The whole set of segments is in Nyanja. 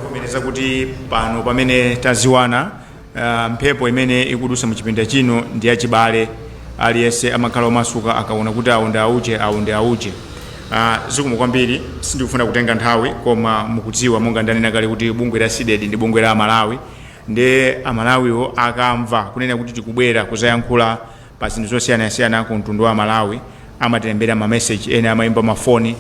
kuvomereza kuti pano pamene taziwana uh, mphepo imene ikudusa mu chipinda chino ndi yachibale aliyense amakhala omasuka akaona kuti awo ndi auje awo ndi auje uh, zikomo kwambiri sindikufuna kutenga nthawi koma mukudziwa monga ndanena kale kuti bungwe la CDEDI ndi bungwe la amalawi ndiye amalawiwo akamva kunena kuti tikubwera kuzayankhula pa zinthu zosiyanasiyana ku mtundu wa amalawi amatilembera ma message ena amaimba mafoni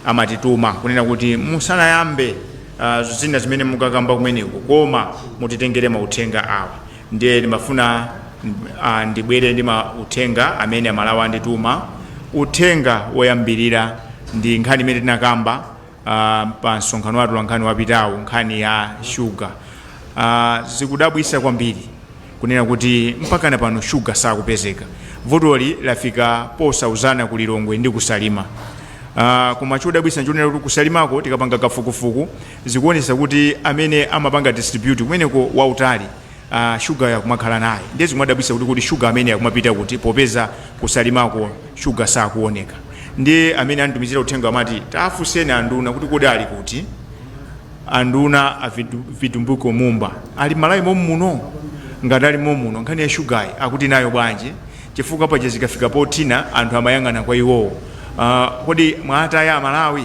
amatituma kunena kuti musanayambe uh, zina zimene mukakamba kumeneko koma mutitengere mauthenga awa ndiye ndimafuna uh, ndibwere ndi mauthenga amene amalawi andituma uthenga woyambirira ndi nkhani imene tinakamba uh, pa msonkhano wa atolankhani wapitawu nkhani ya shuga uh, zikudabwisa kwambiri kunena kuti mpakana pano shuga sakupezeka vutoli lafika posauzana ku lilongwe ndi kusalima uh, koma chodabwisa nchonena kuti kusalimako tikapanga kafukufuku zikuonesa kuti amene amapanga distribute kumeneko mautani a sugar yo akumakhala naye ndiye zikumadabwisa kuti kodi sugar ameneyi akumapita kuti popeza kusalimako sugar sakuoneka ndiye amene anditumizira uthenga amati taafuseni anduna kuti kodi ali kuti anduna a Vitu- Vitumbiko mumba ali m'malawi mommuno ngati ali mommuno nkhani ya shugayi akuti nayo bwanji chifukwa paja zikafika pothina anthu amayang'ana kwa iwowo Ah, kodi mwaataya amalawi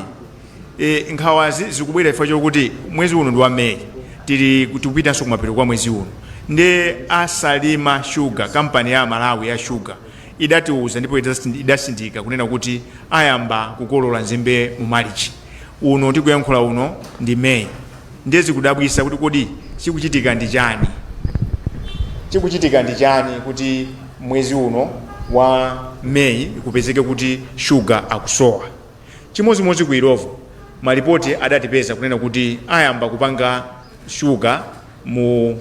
E, nkhawazi zikubwera chifukwa chokuti mwezi uno ndi wa May tili tikupitanso kumapeto kwa mwezi uno ndiye asalima shuga kampani ya Amalawi ya shuga idatiuza ndipo idasindi- idasindika kunena kuti ayamba kukolola nzimbe mu malichi uno tikuyankhula uno ndi May ndiye zikudabwisa kuti kodi chikuchitika ndi chani chikuchitika ndi chani kuti mwezi uno wa May kupezeke kuti shuga akusowa Chimodzimodzi ku Illovo, malipoti adatipeza kunena kuti ayamba kupanga shuga mu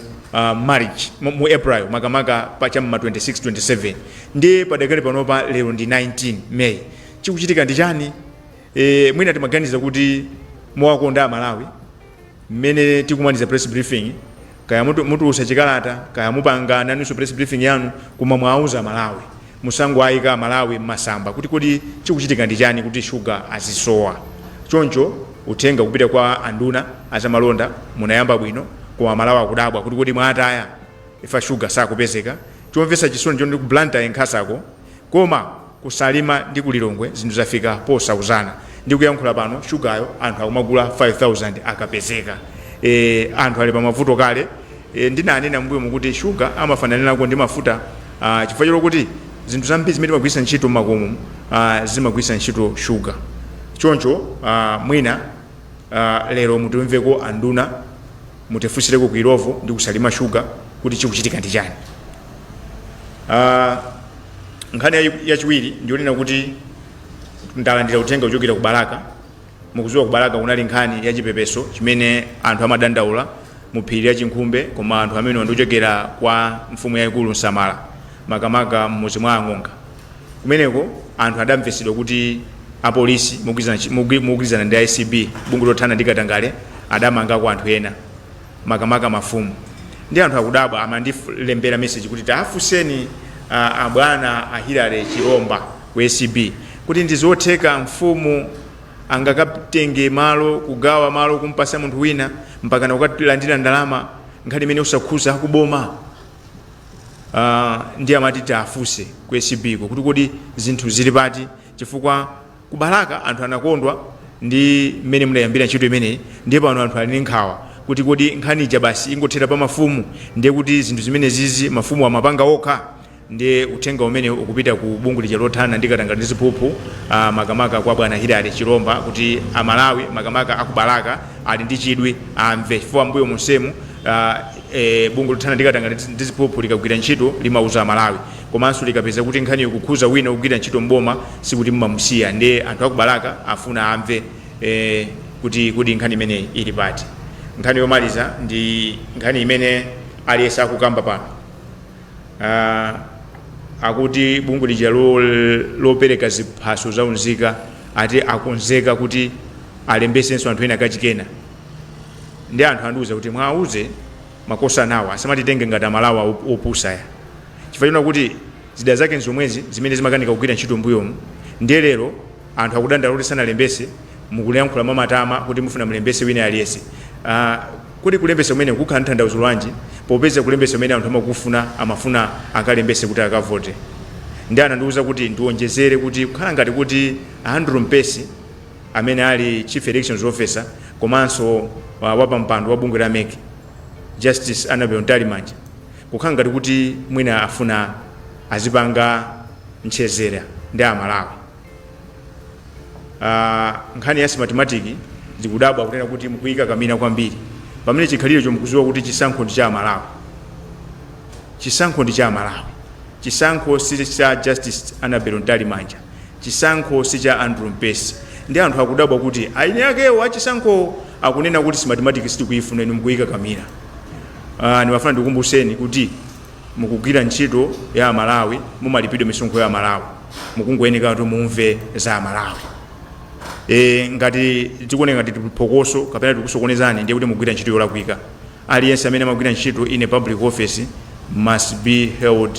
March, mu April makamaka pa cha m'ma 26, 27 ndiye padakali panopa lero ndi 19 May. Chikuchitika ndi chani? Mwina timaganiza kuti mumawakonda Amalawi. mmene tikumaliza press briefing kaya mutulusa chikalata kaya mupanga nanunso press briefing yanu koma muwauze amalawi musangoayika amalawi mmasamba kuti kodi chikuchitika ndi chani kuti sugar azisowa choncho uthenga kupita kwa anduna azamalonda munayamba bwino koma amalawi akudabwa kuti kodi mwawataya ifa sugar sakupezeka chomvesa chisoni nchoti ku blantyre nkhasako koma ku salima ndi ku lilongwe zinthu zafika posauzana ndikuyankhula pano sugar yo anthu akumagula 5000 akapezeka e, anthu ali pamavuto kale e, ndinanena mbuyomu kuti sugar amafananirako ndi mafuta uh, chifukwa chokuti zinthu zambiri zimene timagwiritsa ntchito mmakomo uh, zimagwiritsa ntchito sugar choncho uh, mwina uh, lero mutimveko anduna mutifusireko ku illovo ndi kusalima shuga kuti chikuchitika ndi chani uh, nkhani yayi- yachiwiri ndionena kuti ndalandira uthenga kuchokera ku balaka mukuziwa ku balaka kunali nkhani ya chipepeso chimene anthu amadandaula mu phiri la chinkhumbe koma anthu amenewa ndiochokera kwa mfumu yayikulu msamala makamaka m'mudzi mwa ang'onga kumeneko anthu adamvetsedwa kuti apolisi mogwirizana chi- mogwi- mogwirizana ndi a acb bungwe lothana ndi katangale adamangako anthu ena makamaka mafumu nde anthu akudabwa amandilembera meseji kuti tafunseni ah, abwana a hilary chilomba ku acb kuti ndizotheka mfumu angakatenge malo kugawa malo kumpasa munthu wina mpakana ukalandira ndalama nkhani imeneyo osakhuza akuboma uh, nde amati tiafuse ku acb ko kuti kodi zinthu zili pati chifukwa ku balaka anthu anakondwa ndi mmene munayambira ntchito imeneyi ndiye pano anthu ali ndi nkhawa kuti kodi nkhani ija basi ingothera pa mafumu ndiye kuti zinthu zimenezizi mafumu amapanga okha ndiye uthenga umene ukupita ku bungwe lija lothana ndi katangale ndi ziphuphu ah, makamaka kwa bwana hilary chilomba kuti amalawi makamaka akubalaka ali ndi chidwi amve chifukwa mbuyo monsemu ah, Eee bungwe lothana ndi katangale ndi ziphuphu likagwira ntchito limauza amalawi komanso likapeza kuti nkhaniyo ikukhuza wina ogwira ntchito m'boma sikuti mumamusiya nde anthu aku balaka afuna amve ee kuti kodi nkhani imeneyi ili pati nkhani yomaliza ndi nkhani imene aliyese akukamba pano aa akuti bungwe lija lo- lopereka ziphaso za unzika ati akonzeka kuti alembesenso anthu ena kachikenanso nde anthu andiuza kuti mwauze makosanawa asamatitenge ngati amalawi op- opusa ayi chifukwa chonena kuti zida zake nzomwezi zimene zimakanika kugwira ntchito mbuyomu ndiye lero anthu akudandaula kuti sanalembese mukulankhula mwamatama kuti mufuna mulembese wina aliyense uh, kuti kulembesa kumeneko kukhala ntanthauzo lwanji popeza kulembesa kumene anthu amakufuna amafuna akalembese kuti akavote nde anandiuza kuti ndionjezere kuti kukhala ngati kuti andrew mpesi amene ali Chief Elections Officer komanso wapampando wa bungwe la mec Justice Annabel Mtalimanja kukhala ngati kuti mwina afuna azipanga ntchetera ndi a Malawi. Uh, nkhani ya Smartmatic tikudabwa kunena kuti mukuyika kamuna kwambiri pamene chikhalirecho mukuziwa kuti chisankho ndi cha aMalawi. Chisankho ndi cha aMalawi. Chisankho si cha Justice Annabel Mtalimanja. Chisankho si cha Andrew Mpesi ndiye anthu akudabwa kuti eni akewo a chisankhowo akunena kuti Smartmatic sitikuyifuna inu mukuyikakamira. Aaa ndimafuna ndikukumbuseni kuti mukugwira ntchito ya amalawi mumalipidwa misonkho ya amalawi mukungoyeneka kuti mumve za amalawi. Eee ngati zikuoneka ngati tili phokoso kapena tikukusokonezani ndiye kuti mukugwira ntchito yolakwika. Aliyense amene amagwira ntchito in a public office must be held.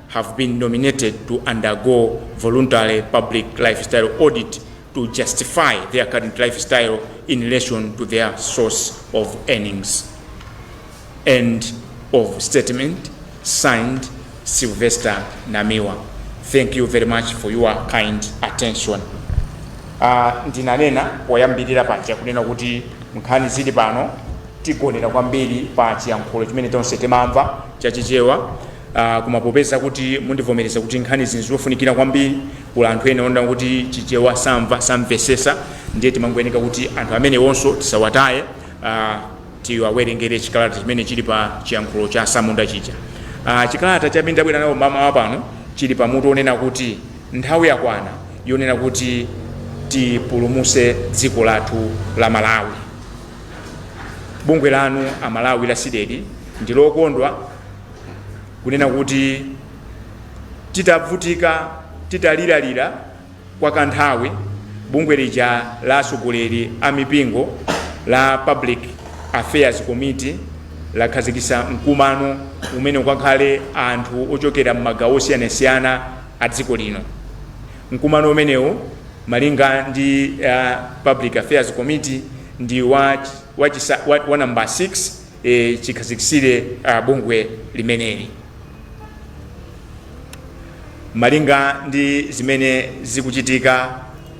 have been nominated to undergo voluntary public lifestyle audit to justify their current lifestyle in relation to their source of earnings. End of statement signed Sylvester Namiwa. Thank you very much for your kind attention. Uh, ndinanena poyambirira paja kunena kuti nkhani zili pano tigonera kwambiri pa chiyankhulo chimene tonse timamva chachichewa Aaa koma popeza kuti mundivomereza kuti nkhanizi nzofunikira kwambiri kuli anthu ena onena kuti Chichewa samva, samvesesa ndiye timangoyeneka kuti anthu amenewonso tisawataye aah tiwawerengere chikalata chimene chili pa chiyankhulo cha asamunda chija. Aah chikalata chimene tabwera nacho mmamawa pano chili pa mutu onena kuti nthawi yakwana yonena kuti tipulumuse dziko lathu la Malawi. Bungwe lanu a Malawi la Cdedi ndilokondwa. kunena kuti titavutika titaliralira kwa kanthawi bungwe lija la atsogoleri a mipingo la public affairs committee lakhazikisa mkumano umene ukakhale anthu ochokera m'magawo osiyanasiyana a dziko lino mkumano umenewu malinga ndi uh, public affairs committee ndi wa, wa, wa, wa number 6 e, chikhazikitsire a, bungwe limeneli malinga ndi zimene zikuchitika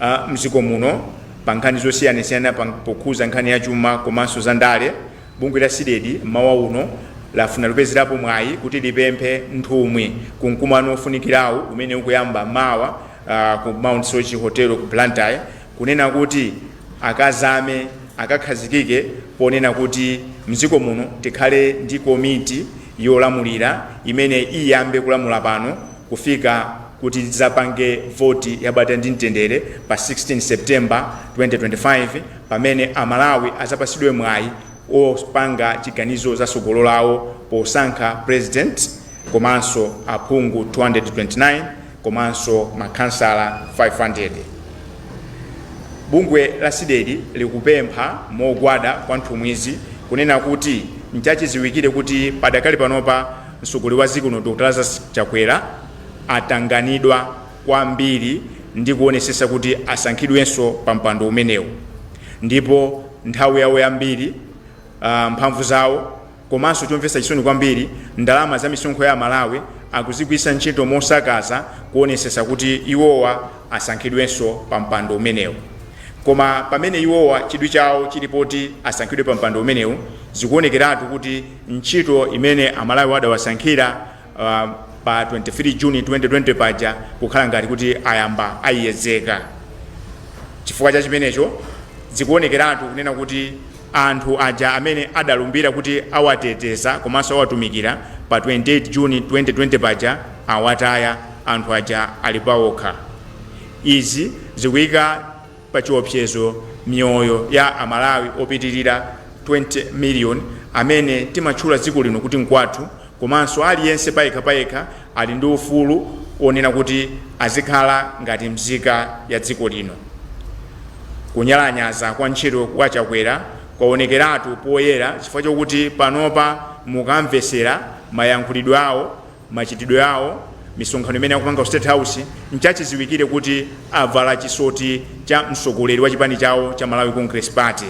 a, mdziko muno pa nkhani zosiyanasiyana pa- pokhuza nkhani ya chuma komanso za ndale bungwe la Cdedi mmawa uno lafuna lipezerepo mwayi kuti lipemphe nthumwi ku mkumano ofunikirawu umene ukuyamba mawa ah, ku Mount Soche hotel ku blantyre kunena kuti akazame akakhazikike ponena kuti mdziko muno tikhale ndi komiti yolamulira imene iyambe kulamula pano kufika kuti tidzapange voti ya bata ndi mtendere pa 16 September 2025 pamene a Malawi adzapatsidwe mwayi opanga chiganizo za tsogolo lawo posankha President komanso aphungu 229, komanso makhansala 500. Bungwe la Cdedi likupempha mogwada kwa nthumwizi kunena kuti nchachiziwikire kuti padakali panopa mtsogoleri wa dziko lino Dr Lazarus Chakwera atanganidwa kwambiri ndi kuonetsetsa kuti asankhidwenso pa mpando umenewu ndipo nthawi yawo yambiri, mphamvu zawo. Komanso chomvetsa chisoni kwambiri ndalama za misonkho ya amalawi akuzigwiritsa ntchito mosakaza kuonetsetsa kuti iwowa asankhidwenso pa mpando umenewu. Koma pamene iwowa chidwi chawo chili poti asankhidwe pa mpando umenewu zikuonekeratu kuti ntchito imene amalawiwa adawasankhira pa 23 June 2020 paja kukhala ngati kuti ayamba ayiyedzeka. Chifukwa cha chimenecho, zikuonekeratu kunena kuti anthu aja amene adalumbira kuti awateteza komanso awatumikira pa 28 June 2020 paja awataya, anthu aja ali paokha. Izi zikuika. pachiopsezo miyoyo ya a Malawi opitilira 20 million amene timatchula dziko lino kuti nkwathu komanso aliyense payekha payekha ali ndi ufulu onena kuti azikhala ngati mzika ya dziko lino. Kunyalanyaza kwa ntchito kwa Chakwera kwaonekeratu poyera chifukwa chokuti panopa mukamvetsera mayankhulidwe awo, Machitidwe awo, misonkhano imene akupanga ku State House, nchachiziwikire kuti avala chisoti cha mtsogoleri wa chipani chawo cha Malawi Congress Party.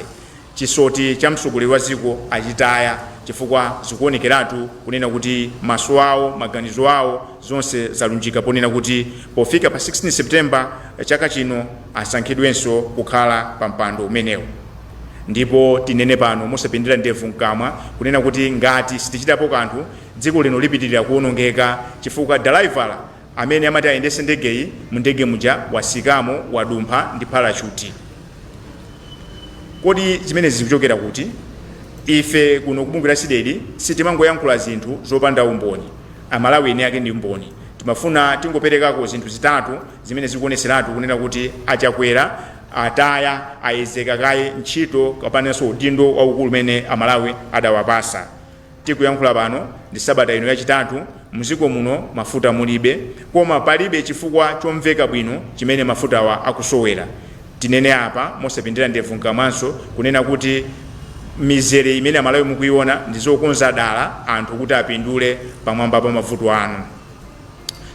Chisoti cha mtsogoleri wa dziko achitaya chifukwa zikuonekeratu kunena kuti maso awo, maganizo awo, zonse zalunjika ponena kuti pofika pa 16 September chaka chino asankhidwenso kukhala pa mpando umenewu. Ndipo tinene pano mosapindira ndevu mkamwa kunena kuti ngati sitichitapo kanthu, Dziko lino lipitilira kuonongeka chifukwa dalaivala amene amati ayendese ndegeyi mu ndege muja watsikamo wadumpha ndi parachuti. Kodi zimenezi zikuchokera kuti? Ife kuno ku bungwe la Cdedi sitimangoyankhula zinthu zopanda umboni. A Malawi eni ake ndi mboni. Timafuna tingoperekako zinthu zitatu zimene zikuoneseratu kunena kuti a Chakwera ataya, ayedzeka kaye ntchito kapanenso udindo waukulu umene a Malawi adawapasa. Tikuyankhula pano ndi sabata ino yachitatu, mziko muno mafuta mulibe koma palibe chifukwa chomveka bwino chimene mafutawa akusowera. Tinene apa mosapindira ndevu mkamwanso kunena kuti mizere imene amalawi mukuiona ndizokonza dala anthu kuti apindule pamwamba pa mavuto anu.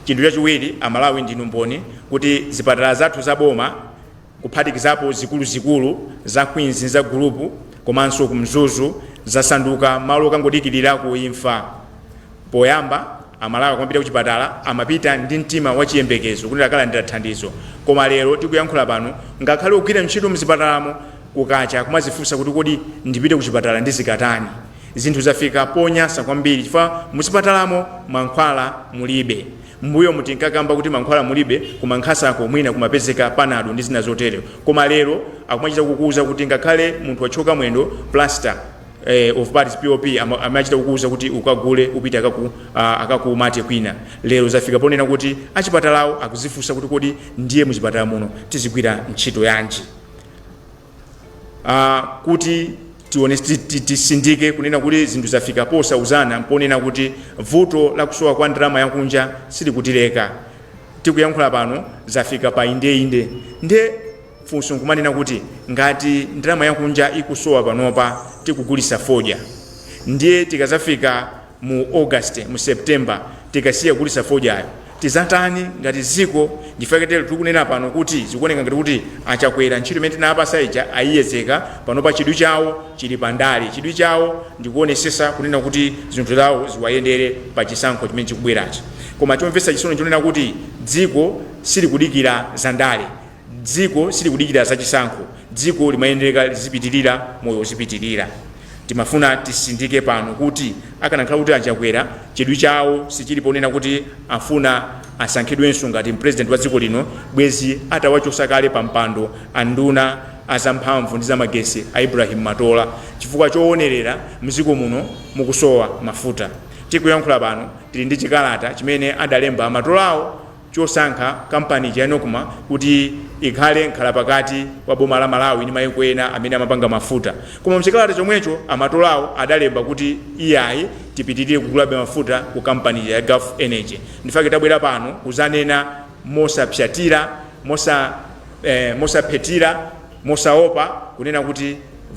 Chinthu chachiwiri amalawi ndinu mboni kuti zipatala zathu za boma, kuphatikizapo zikuluzikulu za Queens za Gulupu komanso ku Mzuzu zasanduka malo okangodikilirako imfa. Poyamba Amalawi akamapita kuchipatala amapita ndi mtima wa chiyembekezo kuti akalandira thandizo koma lero tikuyankhula pano ngakhale ogwira ntchito mzipatalamo kukacha kumazifunsa kuti kodi ndipite kuchipatala ndizikatani? Zinthu zafika ponyasa kwambiri chifukwa muzipatalamo mankhwala mulibe. M'mbuyomu tinkakamba kuti mankhwala mulibe ku Mankhasako mwina kumapezeka panado ndi zina zotero koma lero akumachita kukuuza kuti ngakhale munthu wathyoka mwendo plaster of paris, POP, amachita kukuuza kuti ukagule upite akaku akakumate kwina. Lero zafika ponena kuti achipatalawo akudzifunsa kuti kodi ndiye muchipatala muno tizigwira ntchito yanji? uh, kuti tione tisindike kunena kuti zinthu zafika posauzana mponena kuti vuto la kusowa kwa ndalama yakunja silikutileka tikuyankhula pano zafika pa indeinde nde funso nkumanena kuti ngati ndalama yakunja ikusowa panopa tikugulisa fodya ndiye tikazafika mu August mu September tikasiya kugulitsa fodyayo tizatani ngati dziko nchifukwa chake tili kunena pano kuti zikuoneka ngati kuti a Chakwera ntchito imene tinawapasa ija ayiyedzeka panopa chidwi chawo chili pa ndale chidwi chawo ndikuonesesa kunena kuti zinthu zawo ziwayendere pa chisankho chimene chikubwerachi koma chomvetsa chisoni nchonena kuti dziko silikudikira za ndale Dziko silikudikira za chisankho, dziko limayenereka lizipitilira, moyo uzipitilira. Timafuna tisindike pano kuti akanakhala kuti a Chakwera chidwi chawo sichili ponena kuti afuna asankhidwenso ngati president wa dziko lino bwezi atawachosa kale pa mpando a nduna a za mphamvu ndi za magesi a Ibrahim Matola chifukwa chowonerera mziko muno mukusowa mafuta. Tikuyankhula pano tili ndi chikalata chimene adalemba a Matolawo chosankha kampani ija ya Nocma kuti ikhale mkhalapakati wa boma la Malawi ndi maiko ena amene amapanga mafuta. Koma mchikalata chomwecho a Matolawo adalemba kuti iyayi tipitilire kugulabe mafuta ku kampani ija ya Gulf Energy. Ndifake tabwera pano kuzanena mosapsyatira, mosa, eh, mosaphethira, mosaopa kunena kuti.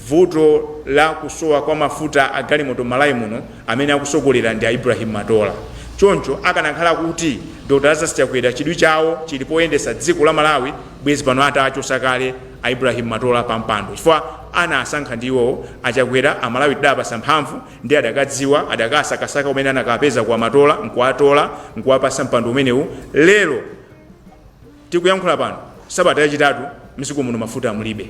Vuto la kusowa kwa mafuta a galimoto m'Malawi muno amene akusogolera ndi a Ibrahim Matola. Choncho akanakhala kuti Dr Lazarus Chakwera chidwi chawo chili poyendesa dziko la Malawi bwezi pano atawachosa kale a Ibrahim Matola pa mpando chifukwa anawasankha ndi iwowo. A Chakwera a Malawi tidawapasa mphamvu ndiye adakadziwa, adakasakasaka kumene anakawapezako a Matola nkuwatola nkuwapasa mpando umenewu lero. Tikuyankhula pano sabata yachitatu mziko muno mafuta mulibe.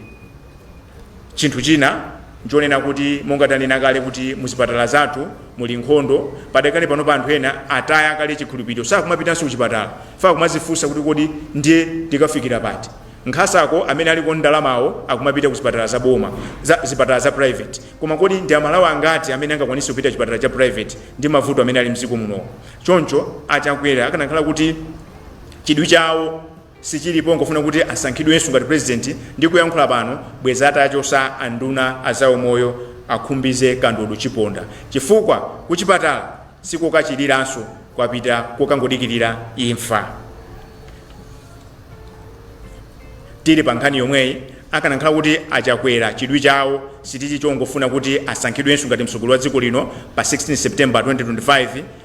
Chinthu china nchonena kuti monga tanena kale kuti muzipatala zathu muli nkhondo, padakali panopa anthu ena ataya kale chikhulupiliro sakumapitanso kuchipatala chifukwa akumazifunsa kuti kodi ndiye tikafikira pati. Nkasako amene ali ndi ndalamawo akumapita ku zipatala za boma, za zipatala za private. Koma kodi ndi amalawi angati amene angakwanise kupita chipatala cha private ndi mavuto amene ali mziko munowa. Choncho a Chakwera akanakhala kuti Chidwi chawo sichili pongofuna kuti asankhidwenso ngati president, ndikuyankhula pano bwezi atachosa a nduna a za umoyo a Khumbize Kandodo Chiponda chifukwa ku chipatala sikokachiliranso koma ndi kokangodikilira imfa. Tili pa nkhani yomweyi, akanakhala kuti a Chakwera chidwi chawo sichili chongofuna kuti asankhidwenso ngati mtsogoleri wa dziko lino pa 16 September 2025,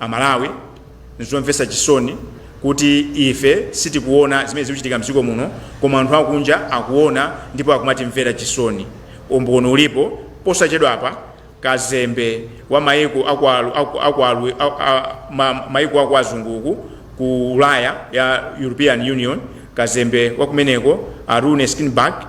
Amalawi nzomvesa chisoni kuti ife sitikuona zimene zikuchitika mdziko muno koma anthu akunja akuona ndipo akumatimvera chisoni. Umboni ulipo posachedwapa kazembe wa maiko aku aku aku aku ma, maiko aku azungu uku ku ulaya ya European Union kazembe wakumeneko a Rune Skinnebach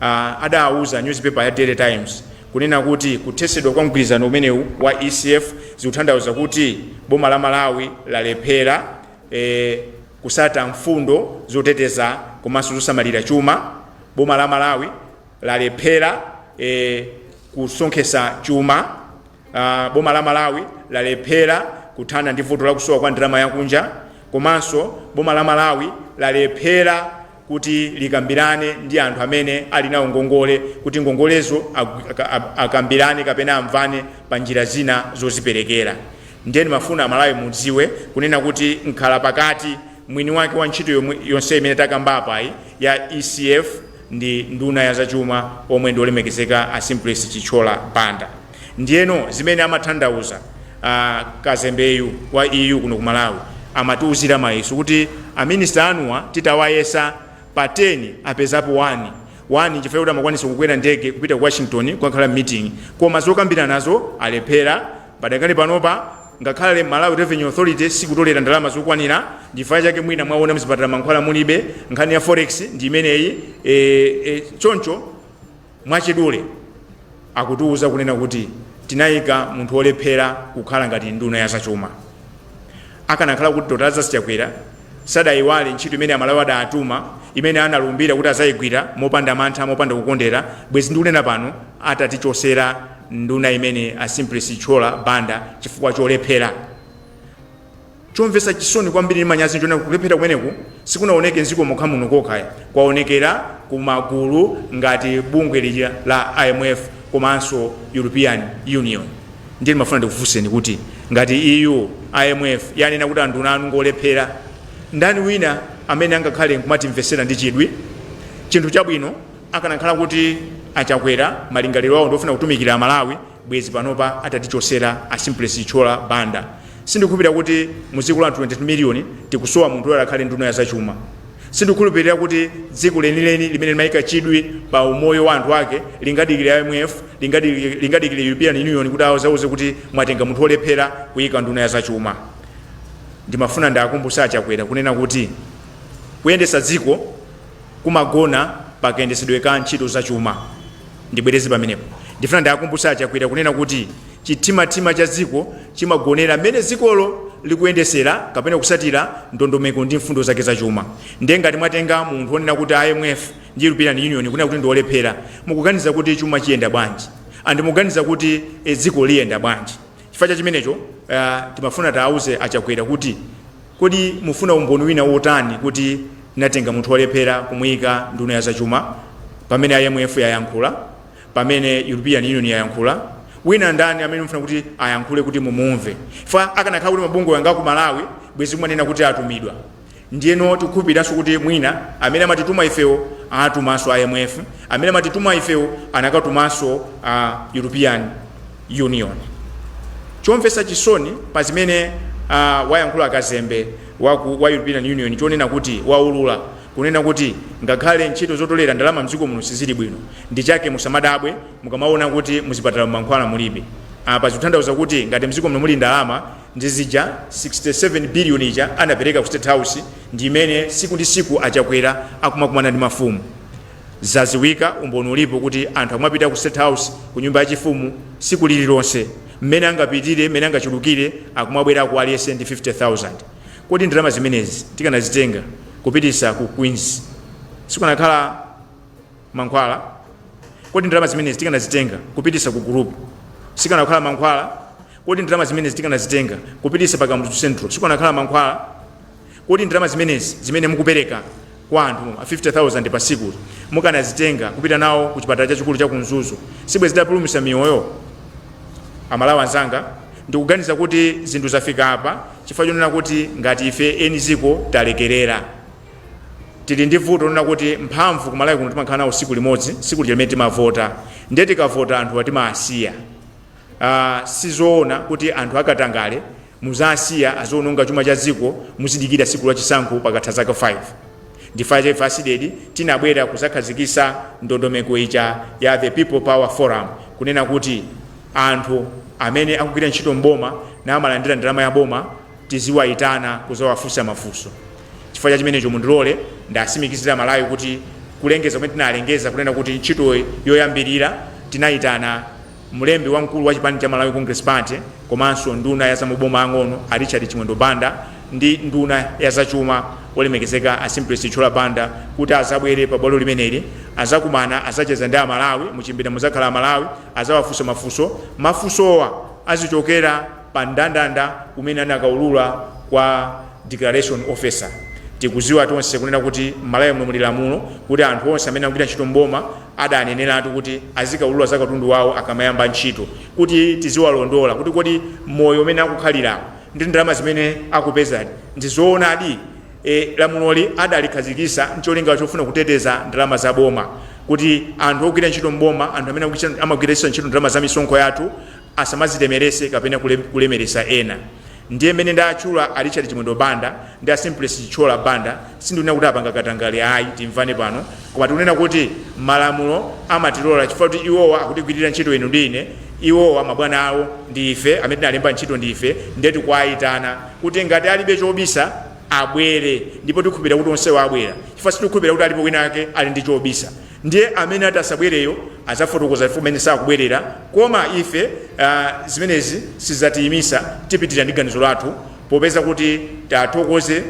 a, adauza nyuzipepa ya Daily Times Kunena kuti kuthesedwa kwa mgwirizano umenewu wa ECF zikuthandauza kuti boma la Malawi lalephera e kutsata mfundo zoteteza komanso zosamalira chuma, boma la Malawi lalephera e kusonkhesa chuma, boma la Malawi lalephera kuthana ndi vuto la kusowa kwa ndalama yakunja komanso boma la Malawi lalephera kuti likambirane ndi anthu amene ali nawo ngongole kuti ngongolezo akambirane kapena amvane pa njira zina zoziperekera ndiye ndimafuna amalawi mudziwe kunena kuti mkhala pakati mwini wake wa ntchito yonse imene takamba apayi ya ecf ndi nduna ya zachuma omwe ndi olemekezeka a simplex chithyola banda Ndiyeno zimene amathandauza a kazembeyu wa EU kuno ku Malawi amatiuzira mayeso kuti a minister anuwa titawayesa pa 10 apezapo 1, 1 nchifukwa choti amakwanisa kukwera ndege kupita ku Washington kukakhala m'meeting koma zokambiranazo alephera. Padakali panopa ngakhale Malawi Revenue Authority sikutolera ndalama zokwanira nchifukwa chake mwina mwaona mzipatala mankhwala mulibe, nkhani ya forex ndi imeneyi, e, e, choncho. Mwachidule, akutiuza kunena kuti tinaika munthu olephera kukhala ngati nduna ya zachuma. Akanakhala kuti Dr. Lazarus Chakwera sadaiwale ntchito imene Amalawi adaatuma, imene analumbira kuti adzaigwira mopanda mantha, mopanda kukondera, bwezi ndikunena pano atatichosera nduna imene a Simplex Chithyola Banda chifukwa cholephera. Chomvetsa chisoni kwambiri ndi manyazi nchoti kulephera kumeneku sikunaoneke m'dziko mokha muno kokha ayi, kwaonekera ku magulu ngati bungwe lija la IMF komanso European Union. Ndiye ndimafuna ndikufunseni kuti ngati EU, IMF yanena kuti anduna anu ngolephera, ndani wina amene angakhale nkumatimvetsera ndi chidwi? Chinthu chabwino akanakhala kuti a Chakwera malingaliro awo ndi ofuna kutumikira Amalawi, bwezi panopa atatichotsera a simplex chithyola banda sindikukhulupilira kuti muziko la anthu 22 million tikusowa munthu oti akhale nduna ya zachuma sindikukhulupilira kuti dziko lenileni limene limayika chidwi pa umoyo wa anthu ake lingadikile imf lingadikile, lingadikile european union kuti azawauze kuti mwatenga munthu olephera kuyika nduna ya zachuma ndimafuna ndiakumbutse a Chakwera kunena kuti kuyendetsa dziko kumagona pa kayendetsedwe ka ntchito za chuma. Ndibwereze pamenepo. Ndifuna ndiakumbutse a Chakwera kunena kuti chimthimathima cha dziko chimagonera mmene dzikolo likuyendetsera kapena kutsatira ndondomeko ndi mfundo zake za chuma. Ndiye ngati mwatenga munthu onena kuti IMF ndi European Union ikunena kuti ndi olephera, mukuganiza kuti chuma chiyenda bwanji? And mukuganiza kuti dziko liyenda bwanji? Chifukwa cha chimenecho, uh, timafuna tiauze a Chakwera kuti Kodi mufuna umboni wina wotani kuti munatenga munthu olephera kumuyika nduna ya zachuma? Pamene IMF yayankhula, pamene European Union yayankhula, wina ndani amene mufuna kuti ayankhule kuti mumumve? Chifukwa akanakhala kuti mabungwe a ngati aku Malawi bwezi mukunena kuti atumidwa. Ndiyeno tikukhulupiriranso kuti mwina amene amatituma ifewo atumanso IMF, amene amatituma ifewo anakatumanso a European. Union. Chomvetsa chisoni pa zimene uh, wayankhula kazembe wa, ku, wa European Union nchonena kuti waulula kunena kuti ngakhale ntchito zotolera ndalama mdziko muno sizili bwino ndi chake musamadabwe mukamaona kuti muzipatala mankhwala mulibe apa ah, zikuthandauza kuti ngati mdziko muno muli ndalama ndi ija 67 billion ija anapereka ku state house ndi imene tsiku ndi tsiku achakwera akumakumana ndi mafumu Zadziwika, umboni ulipo kuti anthu akumapita ku State House, ku nyumba ya chifumu, tsiku lililonse. M'mene angapitire, m'mene angachulukire, akumabwerako aliyense ndi 50,000. Kodi ndalama zimenezi tikanazitenga kupitisa ku Queens, sikukanakhala mankhwala? Kodi ndalama zimenezi tikanazitenga kupitisa ku Gulupu, sikukanakhala mankhwala? Kodi ndalama zimenezi tikanazitenga kupitisa pa Kamuzu Central, sikukanakhala mankhwala? Kodi ndalama zimenezi zimene mukupereka kwa anthu ma 50,000 pa tsikuli mukanazitenga kupita nazo ku chipatala chachikulu cha ku Mzuzu sibwenzi zitapulumutsa miyoyo? A Malawi anzanga, ndikuganiza kuti zinthu zafika apa chifukwa chonena kuti ngati ife eni dziko talekerera. Tili ndi vuto lonena kuti mphamvu ku Malawi kuno timakhala nazo tsiku limodzi, tsiku lija limene timavota. Ndiye tikavota anthuwa timawasiya. Aaa sizoona kuti anthu a katangale Muzasiya aziononga chuma cha dziko muzidikira tsiku la chisankho pakatha zaka 5. Ndi ife Thursday tinabwera kuzakhazikisa ndondomeko ija ya People Power forum kunena kuti anthu amene akugwira ntchito m'boma namalandira ndalama ya boma tiziwaitana kuzawafusa mafunso. Chifukwa cha chimenecho mundilole ndiwasimikizire amalawi kuti kulengeza kumene tinalengeza kunena kuti ntchitoyi yoyambilira tinaitana. Mlembi wamkulu wa chipani cha Malawi Congress Party komanso nduna ya za maboma ang'ono a Richard Chimwendo Banda ndi nduna ya za chuma olemekezeka a Simplex Chithyola Banda kuti azabwere pa bwalo limeneli azakumana azacheza ndi a Malawi muchipinda muzakhala a Malawi azawafunsa mafunso mafunsowa azichokera pa mndandanda umene anakaulura kwa Declaration Officer tikuziwa tonse kunena kuti m'Malawi muno muli lamulo kuti anthu onse amene akugwira ntchito m'boma adaneneratu kuti azikaulula za katundu wawo akamayamba ntchito kuti tiziwalondola kuti kodi moyo umene akukhalilawu ndi ndalama zimene akupezadi ndi zoonadi. Lamuloli adalikhazikisa ncholinga chofuna kuteteza ndalama za boma kuti anthu ogwira ntchito m'boma, anthu amene amagwiritsa ntchito ndalama za misonkho yathu asamazilemerese kapena kulemeresa ena ndiye mene ndatchula a Richard Chimwendo Banda ndi a Simplex Chithyola Banda sindikunena kuti apanga katangale ayi timvane pano koma tikunena kuti malamulo amatilola chifukwa choti iwowa akutigwirira ntchito inu ndi ine iwowa mabwana awo ndi ife amene tinalemba ntchito ndi ife ndiye tikuwayitana kuti ngati alibe chobisa abwere ndipo tikhulupirira kuti onsewo abwera chifukwa sitikukhulupirira kuti alipo wina ake ali ndi chobisa Ndiye amene ati asabwereyo azafotokoza chifukwa chimene sakubwerera koma ife uh, zimenezi sizatiyimisa tipitilira ndi ganizo lathu popeza kuti tithokoze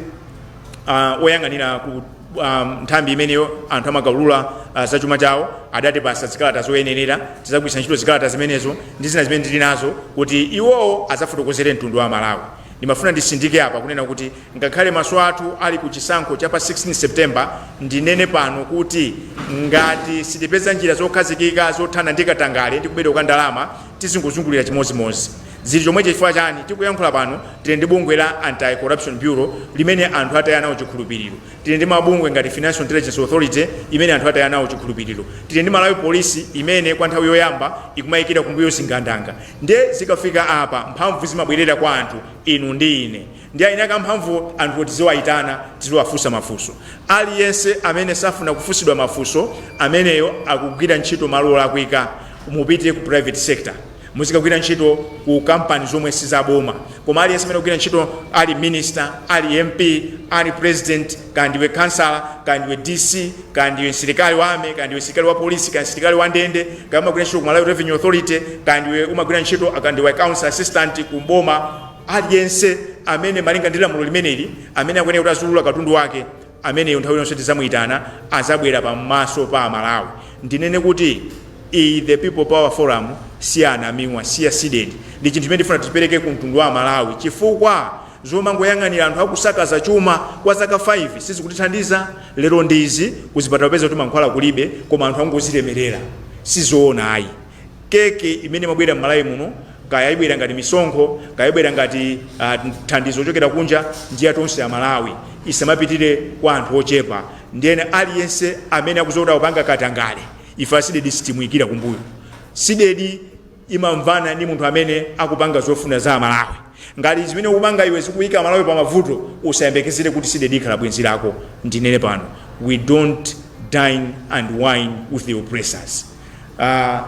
uh, oyang'anira ku um, nthambi imene anthu amakaulula uh, za chuma chawo adatipasa zikalata zoyenerera tizagwiritsa ntchito zikalata zimenezo ndi zina zimene tili nazo kuti iwowo azafotokozere mtundu wa aMalawi ndimafuna ndisindike apa kunena kuti Ngakhale maso athu ali ku chisankho cha pa 16 September, ndinene pano kuti ngati sitipeza njira zokhazikika zothana ndi katangale ndi kubedwa kwa ndalama, tizingozungulira chimodzimodzi. Zili chomwechi chifukwa chani? Tikuyankhula pano tili ndi bungwe la Anti-Corruption Bureau limene anthu ataya nalo chikhulupiliro. Tili ndi mabungwe ngati Financial Intelligence Authority imene anthu ataya nayo chikhulupiliro. Tili ndi Malawi Police imene kwa nthawi yoyamba ikumayikira kumbuyo zigandanga. Ndiye zikafika apa mphamvu zimabwerera kwa anthu, inu ndi ine. Ndife eni ake a mphamvuwo anthuwo tiziwaitana, tiziwafunsa mafunso. Aliyense amene safuna kufunsidwa mafunso, ameneyo akugwira ntchito malo olakwika. Mupite ku private sector. Muzikagwira ntchito ku kampani zomwe si zaboma. Koma aliyense amene akugwira ntchito ali minister, ali MP, ali president, kaya ndiwe khansala, kaya ndiwe DC, kaya ndiwe msilikali wa army, kaya ndiwe msilikali wa polisi, kaya msilikali wa ndende, kaya umagwira ntchito ku Malawi Revenue Authority, kaya ndiwe umagwira ntchito, kaya ndiwe accounts assistant ku boma, Aliyense amene malinga ndi lamulo limeneli, amene akuyenera kuti aziulula katundu wake, ameneyo nthawi iliyonse tidzamuitana, adzabwera pamaso pa Amalawi. Ndinene kuti iyi the People Power Forum si ya Anamiwa, si ya Cdedi. Ndi chinthu chimene tifuna tichipereke ku mtundu wa Amalawi chifukwa zomangoyang'anira anthu akusakaza chuma kwa zaka 5 sizikutithandiza. Lero ndi izi, kuzipatala upeza kuti mankhwala kulibe koma anthu angozilemerera. Si zoona ayi. Keke imene imabwera m'Malawi muno, kaya ibwera ngati misonkho, kaya ibwera ngati thandizo kuchokera kunja, ndi ya tonse a Malawi. Isamapitire kwa anthu ochepa. Ndiyeno aliyense amene akudziwa kuti akupanga katangale, ife a Cdedi sitimuyikira kumbuyo. Cdedi imamvana ndi munthu amene akupanga zofuna za a Malawi. Ngati zimene ukupanga iwe zikuyika a Malawi pa mavuto, usayembekezere kuti Cdedi ikhala bwenzi lako. Ndinene pano, we don't dine and wine with the oppressors. Ah,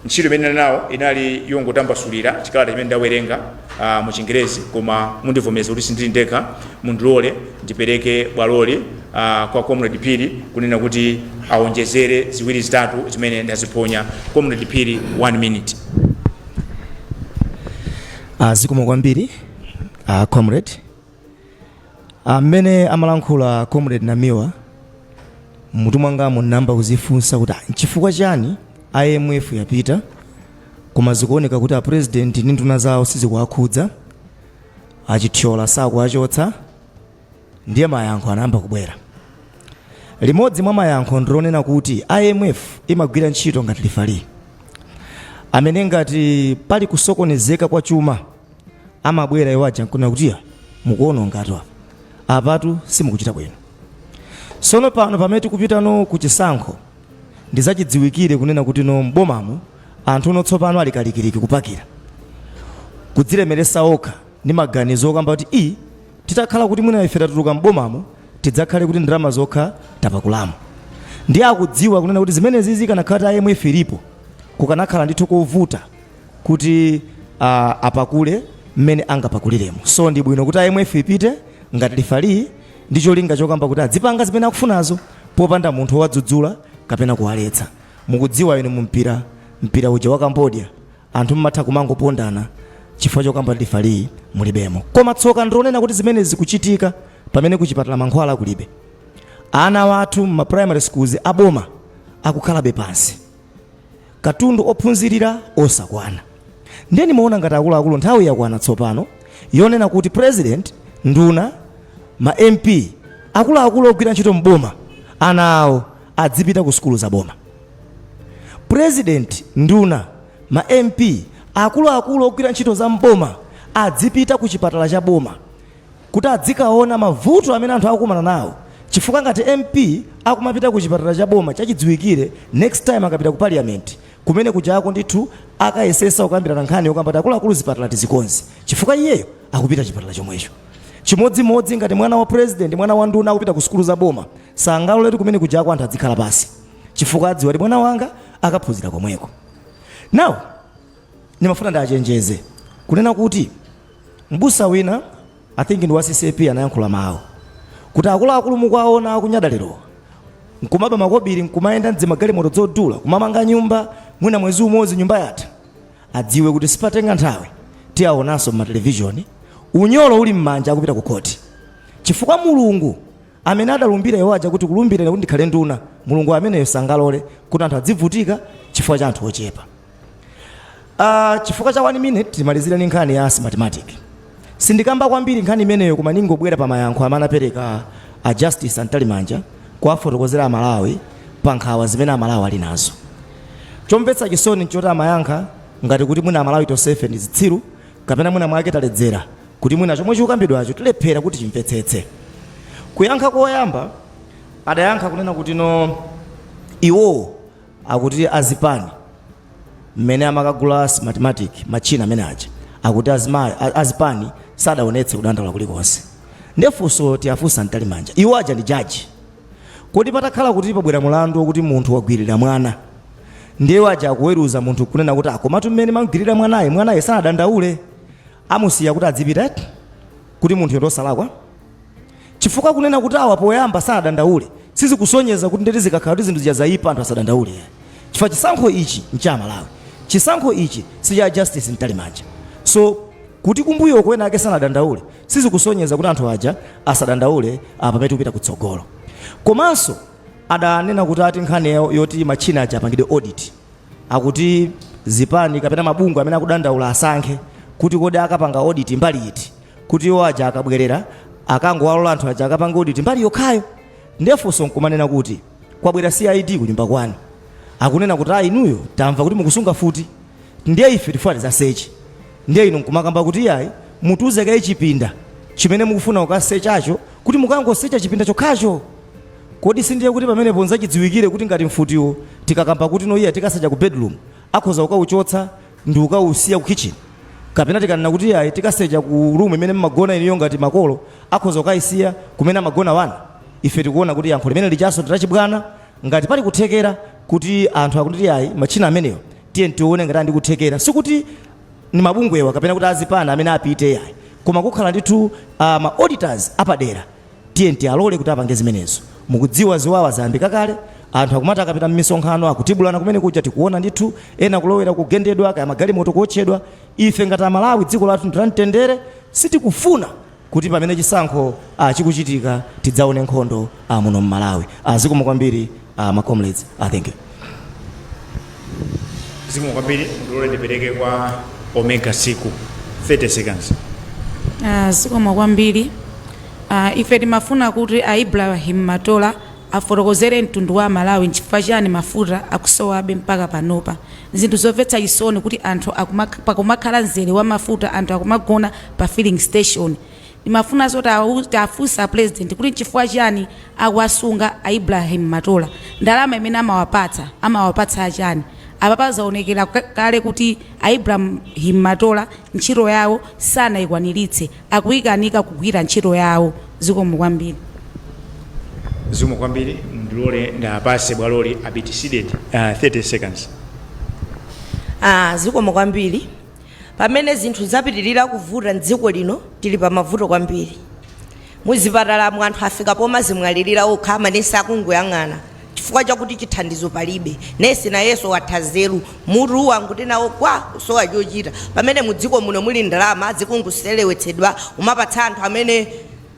ntchito imene ndinali nawo inali yongotambasulira chikalata chimene ndawerenga ah, mu chingerezi koma mundivomeza kuti sindili ndekha mundilole ndipereke bwaloli ah, kwa comrade piri kunena kuti awonjezere ziwiri zitatu zimene ndaziphonya comrade piri one minute Ah, zikomo kwambiri ah, comrade Mmene amalankhula Comrade Namiwa, mmutu mwangamu ndinayamba kudzifunsa kuti ah, nchifukwa chani IMF yapita koma zikuoneka kuti a president ndi nduna zawo sizikuwakhudza, achithyola sakuwachotsa, ndiye mayankho anayamba kubwera. Limodzi mwa mayankho ndilonena kuti IMF imagwira ntchito ngati lifali amene ngati pali kusokonezeka kwa chuma amabwera iwo aja nkunena kuti "Ya, mukuonongatu apa apatu simukuchita bwino sono pano pamene tikupitano ku chisankho ndizachidziwikire kunena kuti no mbomamo anthu uno tsopano ali kalikiliki kupakira kudzilemeresa okha ndi maganizo okamba kuti i titakhala kuti mwina ife tatuluka m'bomamo tidzakhale kuti ndalama zokha tapakulamo ndiye akudziwa kunena kuti zimenezi zikanakhala kuti imf ilipo kukanakhala ndithu kovuta kuti uh, apakule mmene angapakuliremo so ndi bwino kuti imf ipite ngati lifalii ndi cholinga chokamba kuti adzipanga zimene akufunazo popanda munthu owadzudzula kapena kuwaletsa mukudziwa inu mumpira mpira uja wa cambodia anthu mmatha kumangopondana chifukwa chokamba kuti lifalii mulibemo koma tsoka ndi lonena kuti zimene zikuchitika pamene kuchipatala mankhwala kulibe ana wathu mma primary schools aboma akukhalabe pansi katundu ophunzirira osakwana ndiye ndimaona ngati akuluakulu nthawi yakwana tsopano yonena kuti president nduna ma mp akuluakulu ogwira ntchito m'boma ana awo adzipita ku sukulu za boma president nduna ma mp akuluakulu ogwira ntchito za m'boma adzipita ku chipatala cha boma kuti adzikaona mavuto amene anthu akukumana nawo chifukwa ngati MP akumapita ku chipatala cha boma chachidziwikire next time akapita ku parliament kumene kujako ndithu akayesesa kukambirana nkhani yokamba kuti akuluakulu zipatala tizikonze chifukwa iyeyo akupita chipatala chomwecho chimodzimodzi ngati mwana wa president mwana wa nduna akupita ku sukulu za boma sangaloletu kumene kujako anthu adzikhala pasi chifukwa adziwa kuti mwana wanga akaphunzira komweko now ndimafuna ndiachenjeze kunena kuti M'busa wina I think ndi wa CCAP anayankhula mawu kuti akuluakulu mukuwaona akunyada lerowa nkumaba makobiri nkumayenda mdzimagalimoto dzodula kumamanga nyumba mwina mwezi umodzi nyumba yatha adziwe kuti sipatenga nthawi tiaonanso mmatelevizioni unyolo uli mmanja akupita kukhoti chifukwa Mulungu Amene adalumbira iwo aja kuti kulumbira ine kuti ndikhale nduna, Mulungu ameneyo sangalole kuti anthu adzivutika chifukwa cha anthu ochepa. Aaa chifukwa cha 1 minute timalizire ndi nkhani ya Smartmatic. Sindikamba kwambiri nkhani imeneyo koma ndingobwera pa mayankho amene anapereka a Justice a Mtalimanja kuwafotokozera a Malawi pa nkhawa zimene a Malawi ali nazo. Chomvetsa chisoni nchoti amayankha ngati kuti mwina a Malawi tonsefe ndi zitsiru kapena mwina mwake taledzera. kuti mwina chomwe chikukambidwacho tilephera kuti timvetsetse. Kuyankha koyamba adayankha kunena kuti no iwowo akuti azipani mmene amakagula ma smartmatic matchina amene aja akuti azimayi a- azipani sadaonetse kudandaula kulikonse nde funso tiwafunsa a mtalimanja iwo aja ndi jaji kodi patakhala kuti pabwera mulandu wokuti munthu wagwirira mwana ndi iwo aja akuweruza munthu kunena kuti akomatu mmene amamgwirira mwanaye mwanaye sanadandaule amusiya kuti adzipita eti? kuti munthuyo ndiosalakwa? chifukwa kunena kuti awa poyamba sanadandaule sizikusonyeza kuti ndeti zikakhala kuti zinthu zija zaipa anthu asadandaule yayi chifukwa chisankho ichi ncha amalawi chisankho ichi si cha justice mtalimanja so kuti kumbuyoko ena ake sanadandaule sizikusonyeza kuti anthu aja asadandaule apa pamene tikupita kutsogolo komanso adanena kuti ati nkhani yoti matchina aja apangidwe audit Akuti zipani kapena mabungwe amene akudandaula asankhe kuti kodi akapanga audit mbali iti kuti iwo aja akabwelera akangowalola anthu aja akapange audit mbali yokhayo. Ndiye funso nkumanena kuti kwabwera CID kunyumba kwanu akunena kuti aah inuyo tamva kuti mukusunga futi ndiye ife tikufuna tizaseche ndiye inu nkumakamba kuti iyayi mutiuze kaye chipinda chimene mukufuna kukasechacho kuti mukangosecha chipinda chokhacho? Kodi sindiye kuti pamenepo nzachidziwikire kuti ngati mfutiyo tikakamba kuti no iyayi tikasecha ku bedroom akhoza kukaichotsa ndikukaisiya ku kitchen? Kapena tikanena kuti iyayi tikasecha ku room imene mmagona inuyo ngati makolo akhoza kukaisiya kumene amagona wana? Ife tikuona kuti yankho limene lijanso ndi lachibwana. Ngati pali kuthekera kuti anthu akunena kuti iyayi matchina amenewa tiyeni tione ngati ali ndi kuthekera sikuti ndi mabungwewa kapena kuti azipani amene apite iyayi koma kukhala ndithu ma auditors apadera. Tiyeni tialole kuti apange zimenezo. Mukudziwa, ziwawa zayambika kale. Anthu akumati akapita mmisonkhano, akutibulana kumene kuja, tikuwona ndithu, ena kulowera kugendedwa, kaya magalimoto kuwotchedwa. Ife ngati Amalawi, dziko lathu ndi la mtendere, sitikufuna kuti pamene chisankho chikuchitika tidzawone nkhondo muno m'Malawi. Ah Zikomo kwambiri. Ah, ma comrades. Ah, thank you. zikomo kwambiri mundilole ndipereke kwa omega siku 30 seconds Ah, zikomo kwambiri Ah, ife timafuna kuti a ibrahim matola afotokozere mtundu wa Amalawi nchifukwa chiyani mafuta akusowabe mpaka panopa zinthu zomvetsa chisoni kuti anthu akumak- pakumakhala mzere wa mafuta anthu akumagona pa filling station Ndimafunanso tiwafunse a president kuti nchifukwa chiyani akuwasunga a Ibrahim Matola? Ndalama imene amawapatsa amawapatsa ya chani? Apapa zaonekera kale kuti a Ibrahim Matola ntchito yawo sanaikwaniritse. Akuikanika kugwira ntchito yawo. Zikomo kwambiri. Zikomo kwambiri mundilore ndiwapatse bwalori abitisidedi 30 seconds. Aaa zikomo kwambiri. Pamene zinthu zapitirira kuvuta m'dziko lino, tili pa mavuto kwambiri. Muzipatalamu anthu afika pomazimwalirira okha, amanesi akungoyang'ana chifukwa chakuti chithandizo palibe. Nesi nayenso watha nzeru, mutu wangoti nawo gwa, kusowa chochita. Pamene mu dziko muno muli ndalama zikungoseweretsedwa kumapatsa anthu amene.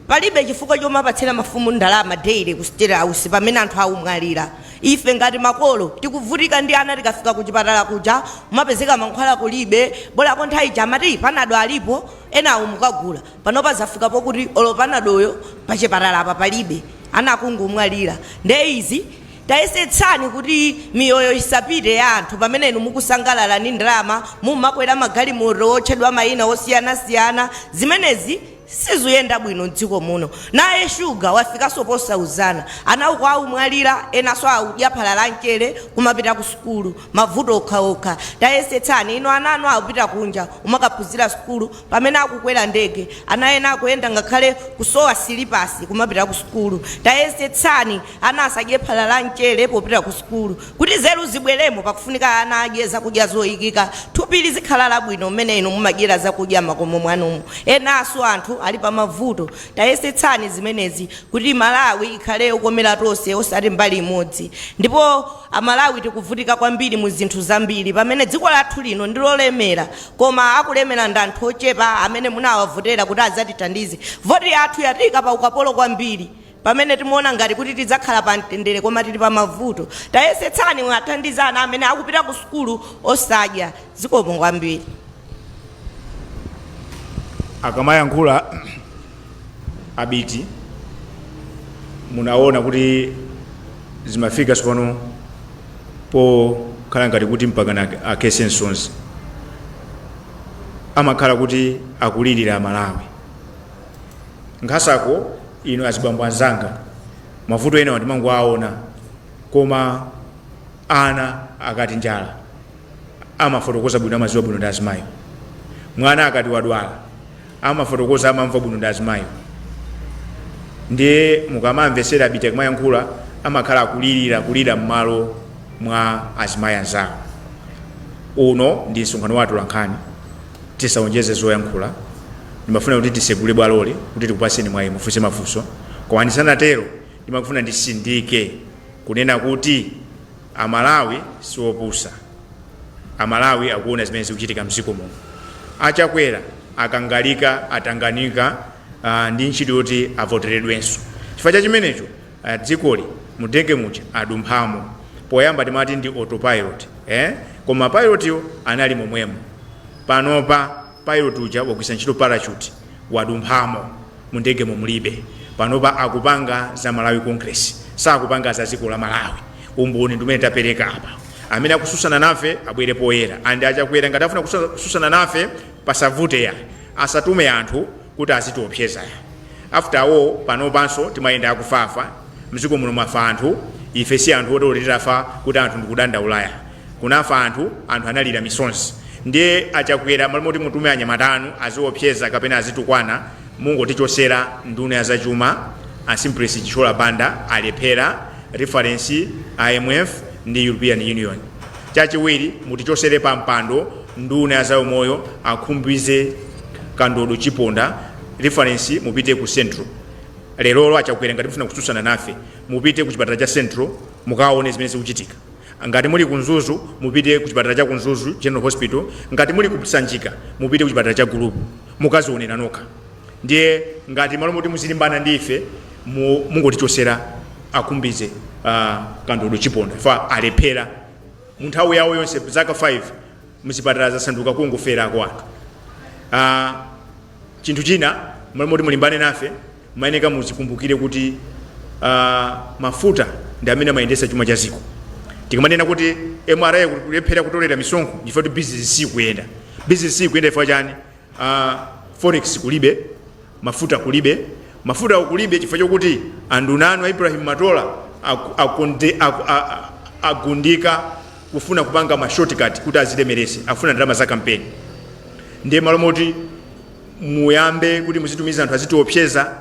Palibe chifukwa chomapatsira mafumu ndalama daily ku state house pamene anthu akumwalira. Ife ngati makolo tikuvutika ndi ana tikafika kuchipatala kuja kumapezeka mankhwala kulibe, bolako nthawi ija amati panado alipo LA-yo mukagula. Panopa zafika pokuti olo panadoyo pachipatala apa palibe ana akungomwalira. Nde izi tayesetsani kuti miyoyo isapite ya anthu pamene inu mukusangalala ndi ndalama mumakwera magalimoto otchedwa maina osiyanasiyana. Zimenezi. Sizikuyenda bwino mdziko muno naye sugar wafikanso posauzana ana uko akumwalila enanso akudya phala la mchere kumapita ku sukulu mavuto okhaokha tayesetsani inu ana anu akupita kunja kumakaphunzira sukulu pamene akukwera ndege ana ena akuyenda ngakhale kusowa silipasi kumapita ku sukulu tayesetsani ana asadye phala la mchere popita ku sukulu Kuti nzeru zibweremo pakufunika ana adye zakudya zoyikika, thupi lizikhala labwino mmene inu mumadyera zakudya mmakomo mwanumu. Enafe anthu ali pamavuto. Tayesetsani zimenezi kuti Malawi ikhale yokomera tonse osati mbali imodzi. Ndipo amalawi tikuvutika kwambiri muzinthu zambiri pamene dziko lathu lino ndilolemera koma akulemera ndi anthu ochepa amene tinawavotera kuti azatithandize. Voti yathu yatiyika paukapolo kwambiri. Pamene timaona ngati kuti tidzakhala pa mtendere koma tili pa mavuto, tayesetsani mwathandiza ana amene akupita ku sukulu osadya. Zikomo kwambiri. Akamayankhula Abiti munaona kuti zimafika tsopano pokhala ngati kuti mpakana akhetse msozi amakhala kuti akulirira amalawi nkhasako ife azibambo anzanga mavuto enawa ndimangowaona koma ana akati njala amafotokoza bwino amaziwa bwino ndi azimayiwo mwana akati wadwala amafotokoza amamva bwino ndi azimayiwo ndiye mukamamvesera abiti akamayankhula amakhala akulirira kulira m'malo mwa azimayi anzawo uno ndi msonkhano wa atolankhani tisaonjeze zoyankhula ndimafuna kuti tisegule bwaloli kuti tikupaseni mwayi mufunse mafunso koma ndisanatero ndimangofuna ndisindike kunena kuti amalawi siopusa amalawi akuona zimene zikuchitika mdziko muno achakwera akangalika atanganika uh, ndi ntchito yoti avoteredwenso chifukwa cha chimenecho a dzikoli mundege muja adumphamo. Poyamba timati ndi autopilot eh? Koma pilot-yo anali momwemo. Panopa pilot uja wagwiritsa ntchito parachute wadumphamo mundegemo mulibe. Panopa akupanga za Malawi Congress sakupanga za dziko la Malawi. Umboni ndi umene tapereka apa. Amene akususana nafe abwere poyera and a Chakwera ngati afuna kusa- kususana nafe pasavute ya asatume anthu kuti azitiopseza ya after all panopanso timayenda chakufafa mziko muno mwafa anthu ife si anthu oti oti titafa kuti anthu nkudandaula ya kunafa anthu anthu analira misonzi ndiye achakwera malo moti mutume anyamata anu azitiopseza kapena azitukwana mungotichosera nduna ya zachuma asimplesi chichola banda alephera reference imf ndi european union chachiwiri mutichosere pa mpando nduna ya zaumoyo akhumbize kandodo chiponda reference mupite ku central lerolo a chakwera ngati mufuna kutsutsana nafe mupite ku chipatala cha central mukaone zimene zikuchitika ngati muli ku mzuzu mupite ku chipatala cha ku mzuzu general hospital ngati muli ku sanjika mupite ku chipatala cha gulupu mukazionera nokha ndiye ngati malo moti muzilimbana ndi ife mu- mungotichosera a khumbize uh, kandodo chiponda fa alephera munthawi yawo yonse zaka 5 mzipatala zasanduka kungoferako anthu chinthu china mmalo moti mulimbane nafe mayeneka muzikumbukire kuti a, mafuta ndi amene amayendesa chuma cha ziko tikamanena kuti mra ikulephera kutolera misonkho chifukwa kuti bizinesi sikuyenda bizinesi sikuyenda chifukwa chani forex kulibe, mafuta kulibe, mafutawo kulibe chifukwa chokuti anduna anu a Ibrahim Matola aku- akunde- aku- a- a- agundika kufuna kupanga ma shortcut kuti azilemerese afuna ndalama za kampeni ndiye malo moti muyambe kuti muzitumiza anthu azitiopseza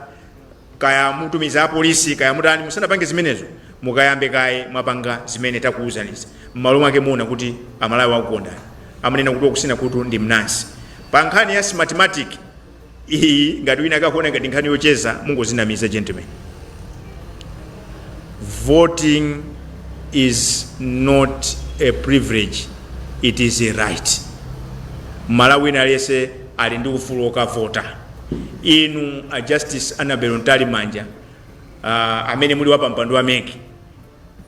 kaya mutumiza apolisi kaya mutani musanapange zimenezo mukayambe kaye mwapanga zimene takuwuzanizo m'malo mwake muona kuti amalawi akukondani amanena kuti wakusina khutu ndi mnansi pa nkhani ya smartmatic iyi ngati wina akakuona ngati nkhani yocheza mungozinamiza gentlemen voting is not a privilege it is a right mmalawi aliyense ali ndi ufulu wokavota inu a justice annabel mtalimanja uh, amene muli wapampando wa mec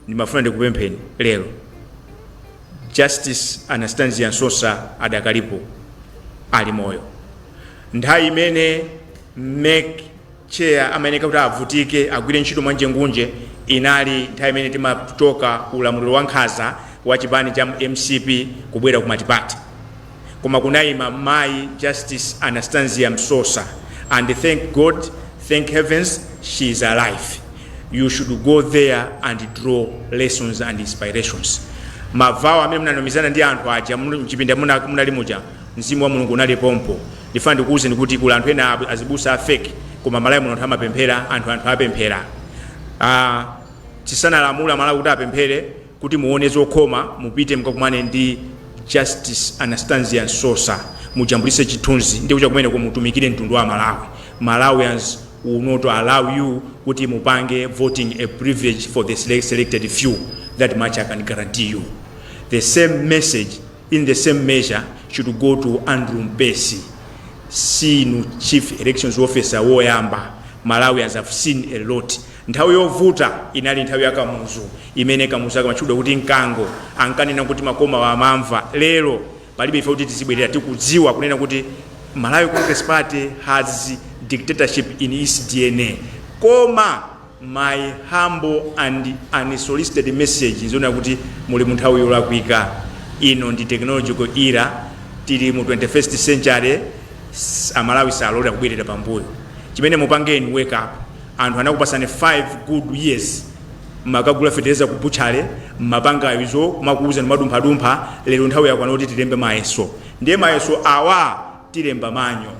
ndimafuna ndikupempheni lero justice anastasia msosa adakalipo ali moyo nthawi imene mec chair amayeneka kuti avutike agwire ntchito mwanjengunjengu inali nthawi imene timachoka ku ulamuliro wa nkhaza wa chipani cha mcp kubwera ku matipati koma kunaima mayi Justice Anastasia Msosa and thank God thank heavens she is alive you should go there and draw lessons and inspirations mavow amene munanomizana ndi anthu aja muli- mchipinda muna- munali muja mzimu wa mulungu unali pompo ndifuna ndikuwuzeni kuti kuli anthu ena ab- azibusa a fake koma malawi muno anthu amapemphera anthu anthu apemphera Ah, tisanalamula malawi kuti apemphere Kuti muone zokhoma mupite mukakumane ndi Justice Anastasia Msosa mujambulise chithunzi ndikuchoka kumeneko mutumikire mtundu wa Malawi. Malawians will not allow you kuti mupange voting a privilege for the selected few that much I can guarantee you. The same message in the same measure should go to Andrew Mpesi sinu chief elections officer woyamba Malawians have seen a lot nthawi yovuta inali nthawi ya Kamuzu imene Kamuzu akamatchudwa kuti mkango ankanena kuti makoma wa amamva lero palibe ife kuti tizibwerera tikudziwa kunena kuti Malawi Congress Party has dictatorship in its DNA koma My humble and unsolicited message n'chonena kuti muli mu nthawi yolakwika. Ino ndi technological era, tili mu 21st century, s- Amalawi salolera kubwerera pambuyo. Chimene mupange inu wake up. Anthu anakupasani 5 good years mmakagula fetereza ku butchale mmapanga izo kumauzana madumphadumpha lero nthawi yakwana kuti tilembe mayeso ndiye mayeso awa tilemba manyo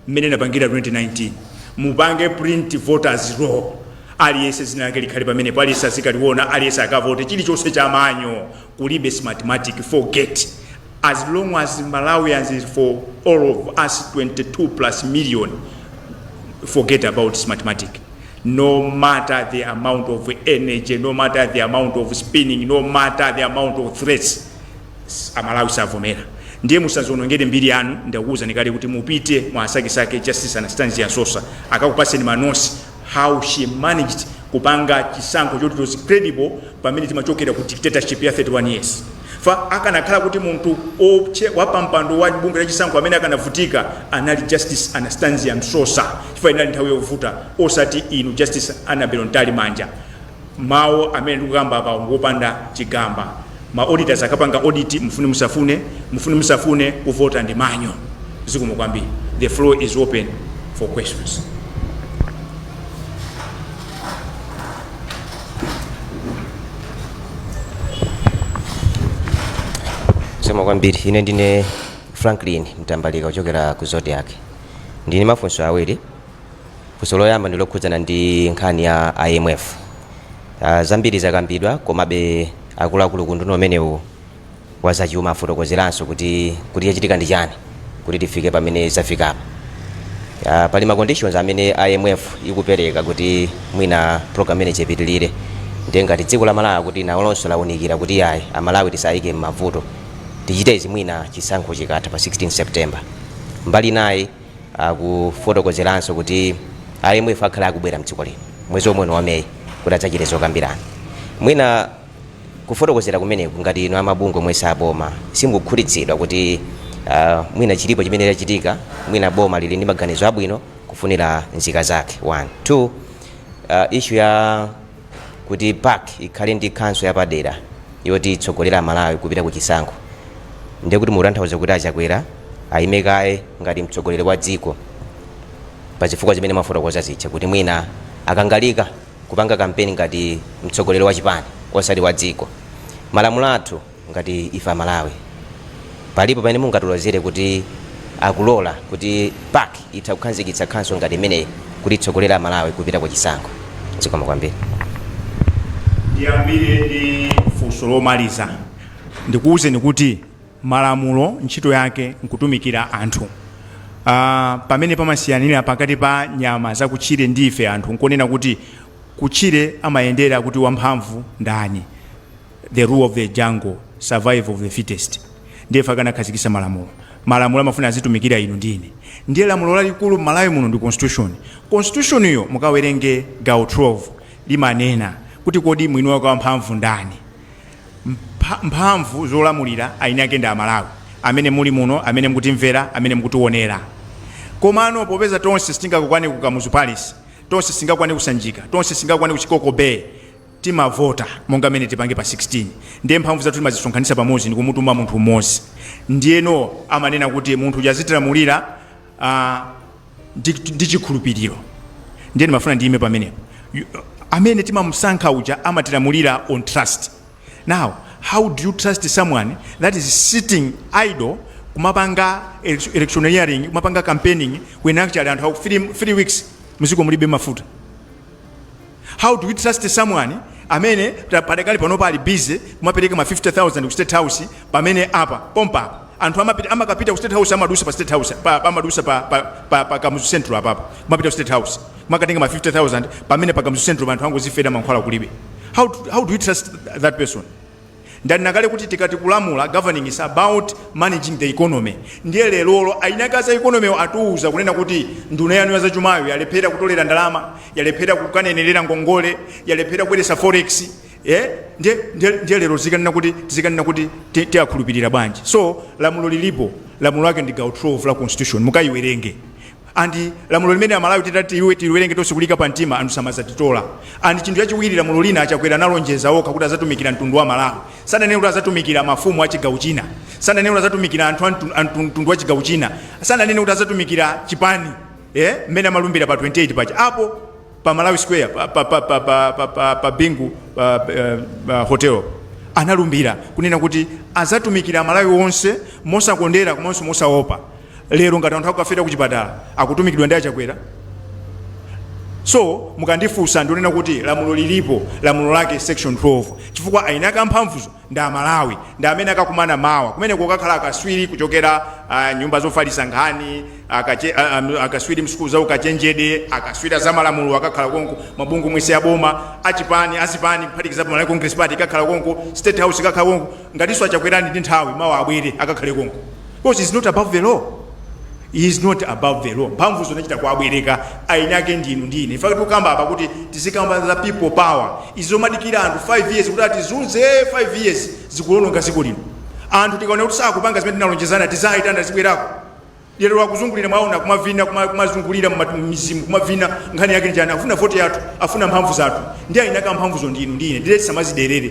mmene inapangira 2019 mupange print voters roll aliyese zina lake likhale pamenepo aliyese azikaliona aliyese akavote chilichonse cha manyo kulibe smartmatic forget as long as malawians is for all of us 22 plus million forget about smartmatic no matter the amount of energy no matter the amount of spinning no matter the amount of threats amalawi savomera ndiye musadzionongere mbiri yanu ndikuuzani kale kuti mupite mukawasakesake justice anastazia msosa akakupaseni manotsi how she managed kupanga chisankho choti it was credible pamene timachokera ku dictatorship ya 31 years fa akanakhala kuti munthu opche wapampando wa bungwe la chisankho amene akanavutika anali justice anastazia msosa chifukwa inali nthawi yovuta osati inu justice annabel mtalimanja Mawu amene ndikukamba apawa ngopanda chigamba. Ma auditors akapanga audit mufune musafune, mufune musafune kuvota ndi manyo. Zikomo kwambiri. The floor is open for questions. Zikomo kwambiri. Ine ndine Franklin Mtambalika kuchokera ku Zodiac. Ndili ndi mafunso awiri. Funso loyamba ndi lokhudzana ndi nkhani ya IMF. Ah, zambiri zakambidwa komabe akuluakulu ku unduna umenewu wa zachuma afotokozeranso kuti kuti chachitika ndi chani kuti tifike pamene zafikapa. Ah, pali ma conditions amene IMF ikupereka kuti mwina program imeneyi ipitilire ndiye ngati dziko la Malawi kuti nalonso launikira kuti yayi a Malawi tisawaike m'mavuto tichite izi mwina chisankho chikatha pa 16 September. Mbali inayi Akufotokozeranso kuti a IMF akhale akubwera mdziko lino mwezi omwe uno wa May kuti adzachite zokambirana. Mwina kufotokozera kumeneku ngati inu amabungwe omwe si aboma simukukhutitsidwa kuti mwina chilipo chimene chachitika, mwina boma lili ndi maganizo abwino kufunira nzika zake 1. 2, Issue ya. kuti pac ikhale ndi council yapadera yoti itsogolere amalawi kupita ku chisankho ndiye kuti mukutanthauza kuti a chakwera ayime kaye ngati mtsogoleri wa dziko pa zifukwa zimene mwafotokoza zija kuti mwina akangalike kupanga kampeni ngati mtsogoleri wa chipani osati wa dziko malamulo athu Ngati ife a Malawi palipo pamene mungatilozere kuti akulola kuti PAC itha kukhanzikitsa khonsolo ngati imeneyi kuti itsogolere a Malawi kupita ku chisankho? Zikomo kwambiri. Ndiyambire ndi funso lomaliza, ndikuuzeni kuti malamulo ntchito yake nkutumikira anthu. Aaa pamene pamasiyanira pakati pa nyama zakutchire ndi ife anthu nkonena kuti kutchire amayendera kuti wamphamvu ndani. the rule of the jungle survival of the fittest ndiye ife anakhazikisa malamulo malamulo amafuna azitumikira inu ndi ine ndiye lamulo lalikulu m'malawi muno ndi constitution constitution yo mukawerenge gawo 12 limanena kuti kodi mwini wake wamphamvu ndani Mpha- mphamvu zolamulira aini ake ndi amalawi amene muli muno amene mukutimvera amene mukutiwonera komano popeza tonse sitingakwane ku kamuzu palace tonse sitingakwane ku sanjika tonse sitingakwane ku chikoko bay timavota monga mmene tipange pa 16 ndiye mphamvu zathu timazisonkhanitsa pamodzi ndikumutuma munthu mmodzi ndiyeno amanena kuti munthu uja azitilamulira ah, ndi ndi chikhulupiriro ndiye ndimafuna ndiyime pamenepo You- amene timamusankha uja amatilamulira on trust now how do you trust someone that is sitting idle kumapanga elec- electioneering kumapanga campaigning when actually anthu aku three, three weeks mziko mulibe mafuta How do we trust someone amene ta- padakali panopa ali busy kumapereka ma 50000 ku state house pamene apa pompa apa anthu amapita amakapita ku state house amadusa pa state house pa pa- amadusa pa pa, pa, pa kamuzu central apapa kumapita ku state house kumakatenga ma 50000 pamene pa kamuzu central anthu angozifera mankhwala kulibe how, do- how do we trust that person Ndanena kale kuti tikati kulamula, governing, is about managing the economy. Ndiye lerolo ayini ake a za economy-wo atiuza kunena kuti nduna yanu ya zachumayo yalephera kutolera ndalama, yalephera kukanenerera ngongole, yalephera kubweretsa forex, eh, ndiye, ndiye, ndiye lero tizikanena kuti, tizikanena kuti ti- tiakhulupirira bwanji? So, lamulo lilipo, lamulo lake ndi gawo 12 la constitution, mukaiwerenge. and lamulo limene amalawi titati ife tiliwerenge tonse kuliika pa mtima anthu samadzatitola and chinthu chachiwiri lamulo lina achakwera analonjeza okha kuti azatumikira mtundu wa malawi sananene kuti azatumikira mafumu a chigawo china sananene kuti azatumikira anthu a mtu- a mtu- mtundu wa chigawo china sananene kuti azatumikira chipani eh, mmene amalumbira pa 28 paja apo pa malawi square pa, pa, pa, pa, pa, pa, pa, pa bingu pa, pa, pa hotel analumbira kunena kuti azatumikira amalawi onse mosakondera komanso mosaopa lero ngati anthu akukafera ku chipatala akutumikidwa ndi achakwera so mukandifunsa ndionena kuti lamulo lilipo lamulo lake section 12 chifukwa ayini ake a mphamvuzo ndi amalawi ndiye amene akakumana mawa kumeneko kukakhala akaswiri kuchokera uh, nyumba zofalisa nkhani akache, uh, akaswiri msukulu za ukachenjede akaswiri azamalamulo akakhala konko mabungwe onse aboma achipani azipani kuphatikizapo malawi congress party ikakhala konko state house ikakhala konko ngatinso achakwera ali ndi nthawi mawa abwere akakhale konko Because he's not above the law. He is not above the law. Mphamvu zonachita kuwabwereka eni ake ndinu ndine. Ife tikukamba apa kuti tizikamba za people power. Izo madikira anthu 5 years kuti atizunze 5 years akuononga dziko lino. Anthu tikaona kuti sakupanga zimene tinalonjezana tizaitana zibwerako. Lero akuzungulira mwaona kumavina kuma- kumazungulira mma- mmidzimu kumavina nkhani yake nchani afuna voti yathu afuna mphamvu zathu ndiye eni ake amphamvuzo ndinu ndine ndiye tisamaziderere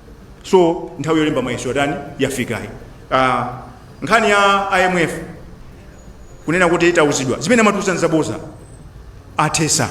so nthawi yolemba mayeso yatani yafikayi uh, nkhani ya imf kunena kuti tauzidwa zimene amatiuza nzaboza athesa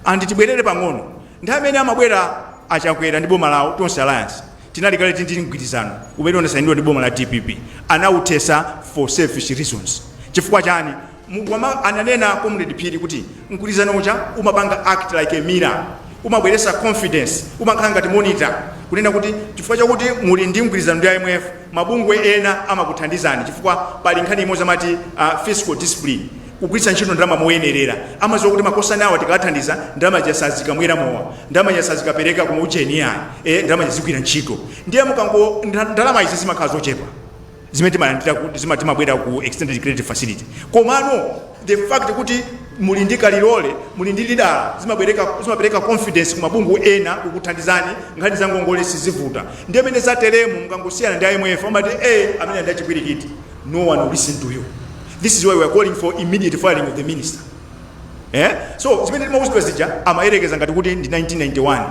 andi tibwerere pang'ono nthawi imene amabwera achakwera ndi boma lawo tonse alliance tinali kale tili ndi mgwirizano umene unasainidwa ndi boma la dpp anauthesa for selfish reasons chifukwa chani Monga ananena comrade phiri kuti mgwirizano uja umapanga act ngati like a mirror, umabweresa confidence, umakhala ngati monitor kunena kuti chifukwa chakuti muli ndi mgwirizano ndi IMF mabungwe ena amakuthandizani chifukwa pali nkhani imodzi amati fiscal discipline kugwiritsa ntchito ndalama moyenerera. Amadziwa kuti makosana awa tikawathandiza ndalama zija sazikamwera mowa, ndalama zija sazikapereka ku maujeni iyayi, eeh ndalama zija zigwira ntchito. Ndiye mukango ndalama izi zimakhala zochepa. zimene timalandira ku- zima- timabwera ku extended credit facility komano the fact kuti muli ndi kalilole muli ndi radar zimabweretsa zimapereka confidence ku mabungwe ena kukuthandizani nkhani za ngongole sizivuta ndi amene zateremu mukangosiyana ndi imf amati eh amenewa ndi achipwirikiti no one will listen to you this is why we are calling for immediate firing of the minister Eh? so zimene timauzidwa zija amayerekeza ngati kuti ndi 1991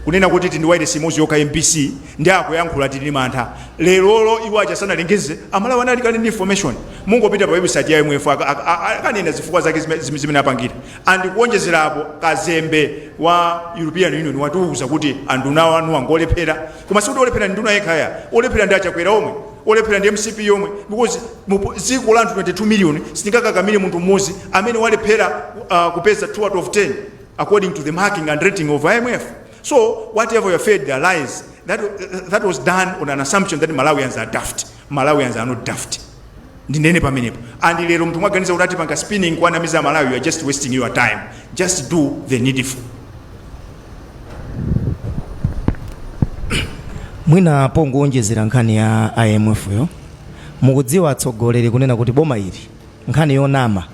kunena kuti tili ndi wailesi imodzi yokha mbc Nde akuyankhula tili ndi mantha lerolo iwo aja sanalengeze amalawi anali kale ndi information mungopita pa website ya imf akanena zifukwa zake zimene apangira and kuonjezera apo kazembe wa European Union watiuza kuti anduna anuwa ngolephera koma sikuti olephera ndi nduna yekha ayi olephera ndi achakwera omwe olephera ndi mcp yomwe because dziko la anthu 22 million sitingakakamire munthu mmodzi amene walephera uh, kupeza 2 out of 10 according to the marking and rating of imf So whatever you fed there lies, that, that was done on an assumption that Malawians are daft. Malawians are not daft. ndinene pamenepo and lero munthu mwaganiza kuti atipanga spinning kuwanamiza amalawi you are just wasting your time just do the needful mwina pongoonjezera nkhani ya imfyo mukudziwa atsogoleri kunena kuti boma ili nkhani yonama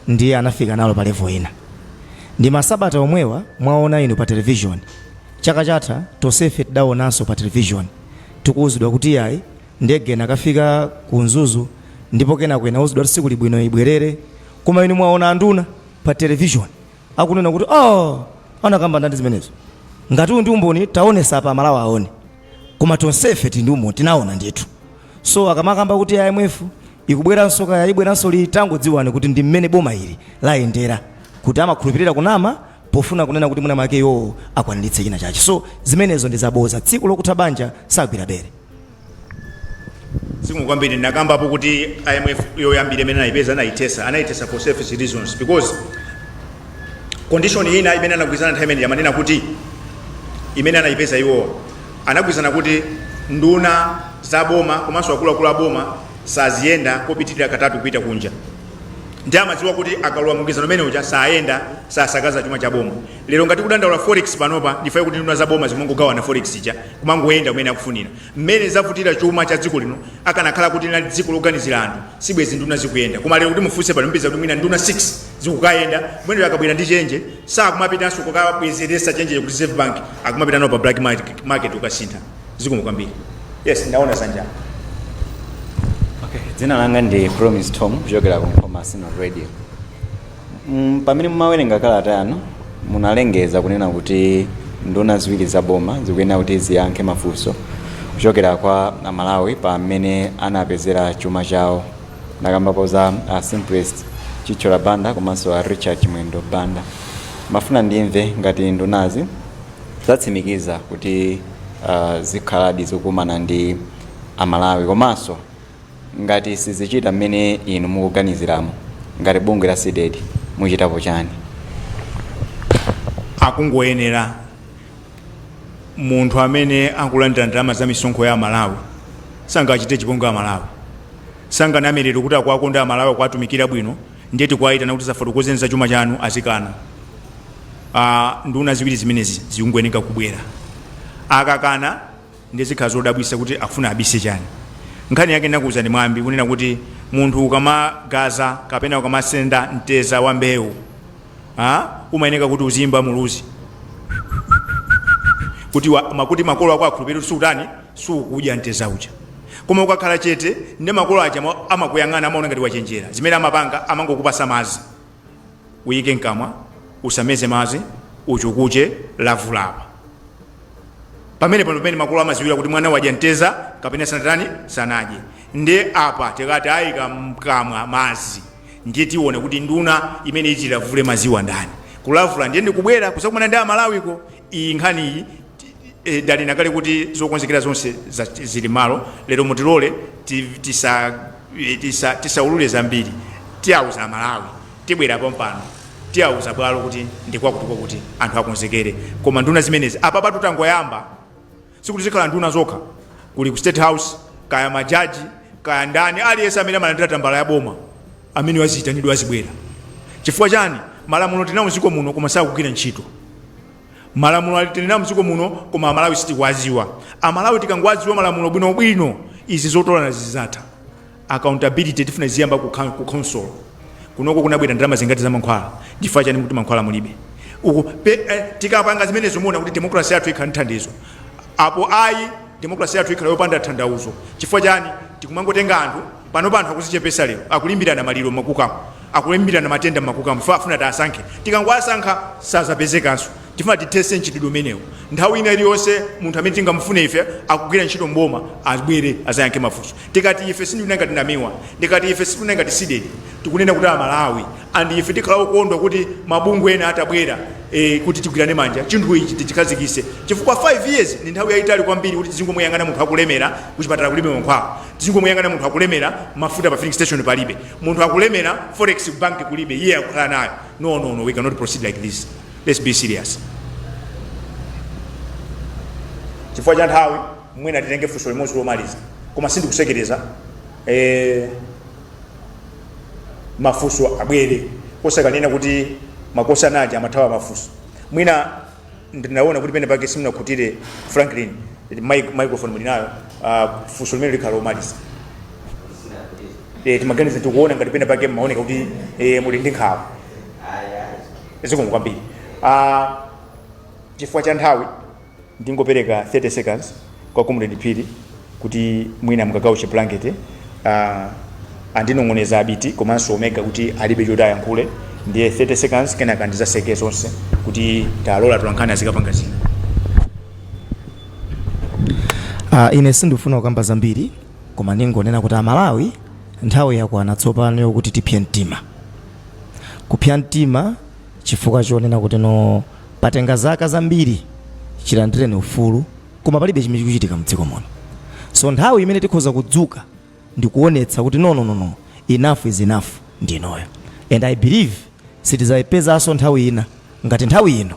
ndiye anafika nalo pa level ina. Ndi masabata omwewa mwaona inu pa television, chaka chatha tonsefe tidaonanso pa television tikuuzidwa kuti iyayi ndege inakafika ku Mzuzu ndipo kenako inauzidwa kuti sikuli bwino ibwerere, koma inu mwaona anduna pa television akunena kuti aah anakamba ndani zimenezo? Ngati uwu ndi umboni taonesa apa Amalawi aone, koma tonsefe tili ndi umboni tinaona ndithu. So akamakamba kuti IMF Ikubweranso kaya ibweranso liti tangodziwani kuti ndi mmene boma ili layendera kuti amakhulupilira kunama pofuna kunena kuti mwina mwake iwowo akwaniritse china chache so zimenezo ndi zaboza tsiku lokutha banja sagwira bere. Zikomo kwambiri ndinakambapo kuti IMF yoyambira imene anayipeza anayithesa anayithesa for selfish reasons because condition ina imene anagwirizana nthawi imene amanena kuti imene anayipeza iwowa anagwirizana kuti nduna za boma komanso akuluakulu a boma saaziyenda kopitilira katatu kupita kunja ndiye amadziwa kuti akalowa mu mgwirizano umene uja sayenda sasakaza chuma cha boma lero ngati tikudandaula forex panopa ndi chifukwa kuti nduna za boma zimangogawana forex ija kumangoyenda mmene akufunira mmene zavutira chuma cha dziko lino akanakhala kuti linali dziko loganizira anthu sibwezi nduna zikuyenda koma lero kuti mufunse pano mupeza kuti mwina nduna 6 zikukayenda kumeneko akabwera ndi chenje sakumapitanso kukabwezeretsa chenjeyo ku reserve bank akumapita nayo pa black market- market kukasintha zikomo kwambiri yes ndaona zanja Okay, dzina langa ndi promise tom kuchokera ku nkhoma synod radio mm, pamene mumawerenga kalata yanu munalengeza kunena kuti nduna ziwiri za boma zikuyenera kuti ziyankhe mafunso kuchokera kwa amalawi pa mmene anapezera chuma chawo Mwakambapo za a Simplex Chithyola Banda komanso a Richard Chimwendo Banda. Ndimafuna ndimve ngati ndunazi zatsimikiza kuti uh, zikhaladi zikukumana ndi Amalawi komanso ngati sizichita mmene inu mukuganiziramo ngati bungwe la Cdedi muchitapo chani? akungoyenera munthu amene akulandira ndalama za misonkho ya amalawi sangachite chipongwe amalawi sanganame lero kuti akuwakonda amalawi akuwatumikira bwino ndiye tikuwayitana kuti safotokozeni za chuma chanu azikana Ah, nduna ziwiri zimenezi zikungoyeneka kubwera akakana ndiye zikhala zodabwisa kuti akufuna abise chani nkhani yake ndakuuzani mwambi kunena kuti munthu ukamakazinga kapena ukamasenda mteza wa mbewu ah, umayeneka kuti uzimba muluzi kuti wa- ma- kuti makolo ako akhulupirire kuti sukutani, sukudya mteza uja koma ukakhala chete ndi makolo aja ama- amakuyang'ana amaona ngati wachenjera zimene amapanga amangokupasa mazi uyike mkamwa usameze madzi uchukuche lavula apa pamene paja pamene makolo amaziwira kuti mwana wadya mteza kapena sanatani sanadye ndiye apa tikati ayika mkamwa madzi ndiye tiona kuti nduna imene ichilavule madziwa ndani kulavula ndiye ndikubwera kusakumana ndi amalawiko iyi nkhani iyi ti- eh, danena kale kuti zokonzekera zonse za- zili mmalo lero mutilole ti- tisa- eh, tisa- tisaululire zambiri tiyauza amalawi tibwera pompano tiyauza bwalo kuti ndikwakuti kwakuti anthu akonzekere koma nduna zimenezi apapa tutangoyamba sikuti zikhala nduna zokha kuli ku state house kaya majaji kaya ndani aliyense amene amalandira tambala ya boma ameneyo aziyitanidwa azibwera chifukwa chani malamulo tinawo mdziko muno koma sakugwira ntchito malamulo ali tinawo mdziko muno koma amalawi sitikuwaziwa amalawi tikangowaziwa malamulo bwinobwino izi zotolana zizatha accountability tifuna iziyamba ku coun ku khonsolo kunoko kunabwera ndalama zingati za mankhwala chifukwa chani mukuti mankhwala mulibe uku pe, eh, tikapanga zimenezo muona kuti democracy yathu ikhala ndi thandizo apo ayi democracy yathu ikhala yopanda thandauzo chifukwa chani tikumangotenga anthu pano anthu akuzichepesa lero akulimbirana maliro m'makukamu akulimbirana matenda m'makukamu chifukwa afuna tiasankhe tikangoasankha sazapezekanso Tifuna tithetse mchitidwe umenewu. Nthawi ina iliyonse munthu amene tingamufune ife akugwira ntchito m'boma abwere azayankhe mafunso. Tikati ife sindikunena ngati Namiwa, ndikati ife sitikunena ngati Cdedi, tikunena kuti a Malawi and ife tikhala okondwa kuti mabungwe ena atabwera ee kuti tigwirane manja chinthu ichi tichikhazikise chifukwa 5 years ndi nthawi yayitali kwambiri kuti tizingomuyang'ana munthu akulemera kuchipatala kulibe mankhwala, tizingomuyang'ana munthu akulemera mafuta pa filling station palibe, munthu akulemera forex ku bank kulibe iye akukhala nayo no no no we cannot proceed like this. let's be serious chifukwa cha nthawi mwina titenge funso limodzi lomaliza koma sindikutsekereza eh, mafunso abwere osakanena kuti mabosi aja amathawa mafunso mwina ndinaona kuti pene pake simunakhutire franklin mic- microphone mulinayo uh, funso limene likhala lomaliza eh, timaganiza tikuona ngati pene pake mmaoneka kuti eh, muli ndi nkhawa zikomo kwambiri uh, chifukwa cha nthawi ndingopereka 30 seconds kwa comrade phiri kuti mwina mkagawo ka blanket uh, andinong'oneza abiti komanso omega kuti alibe choti ayankhule ndiye 30 seconds kenaka ndizatseke zonse kuti tilole atolankhani azikapanga zina Uh, ine sindikufuna kukamba zambiri koma ndingonena kuti amalawi nthawi yakwana tsopano yokuti tipse mtima Kupsa mtima chifukwa chonena kuti no patenga zaka zambiri chilandireni ufulu koma palibe chimene chikuchitika mdziko muno. So nthawi imene tikhoza kudzuka ndikuonetsa kuti no no no no enough is enough ndi inoyo and I believe sitizaipezanso nthawi ina ngati nthawi ino.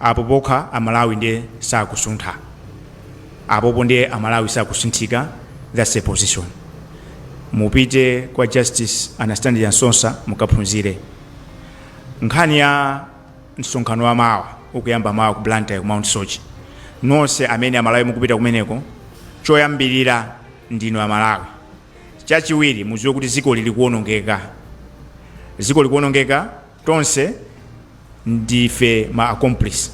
Apo pokha amalawi ndiye sakusuntha apopo ndiye amalawi sakusunthika thats a position mupite kwa justice Anastasia Msosa mukaphunzire nkhani ya msonkhano wa mawa ukuyamba mawa ku Blantyre ku Mount Soche nonse amene amalawi mukupita kumeneko choyambirira ndinu amalawi chachiwiri muziwe kuti ziko lili kuonongeka ziko likuonongeka Tonse ndife ma accomplice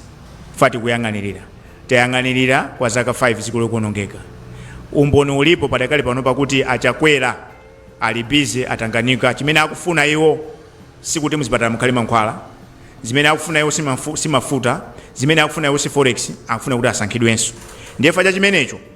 chifukwa tikuyang'anilira. Tayang'anilira kwa zaka 5 dziko likuonongeka. Umboni ulipo padakali panopa kuti a Chakwera ali busy atanganika. Chimene akufuna iwo sikuti muzipatala mukhale mankhwala. Zimene akufuna iwo si mafuta. Zimene akufuna iwo si forex. Akufuna kuti asankhidwenso. Ndiye chifukwa cha chimenecho.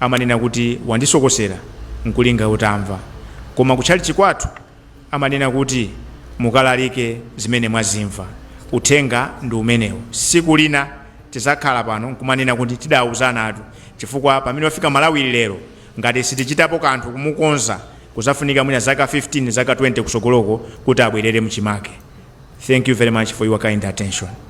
amanena kuti wandisokosera n'kulinga utamva. Koma kutchalitchi kwathu amanena kuti mukalalike zimene mwazimva. Uthenga ndi umenewo. Siku lina tizakhala pano nkumanena kuti tidauzanatu chifukwa pamene wafika Malawi lero ngati sitichitapo kanthu kumukonza kuzafunika mwina zaka 15 zaka 20 kusogoloko kuti abwerere mchimake. Thank you very much for your kind attention.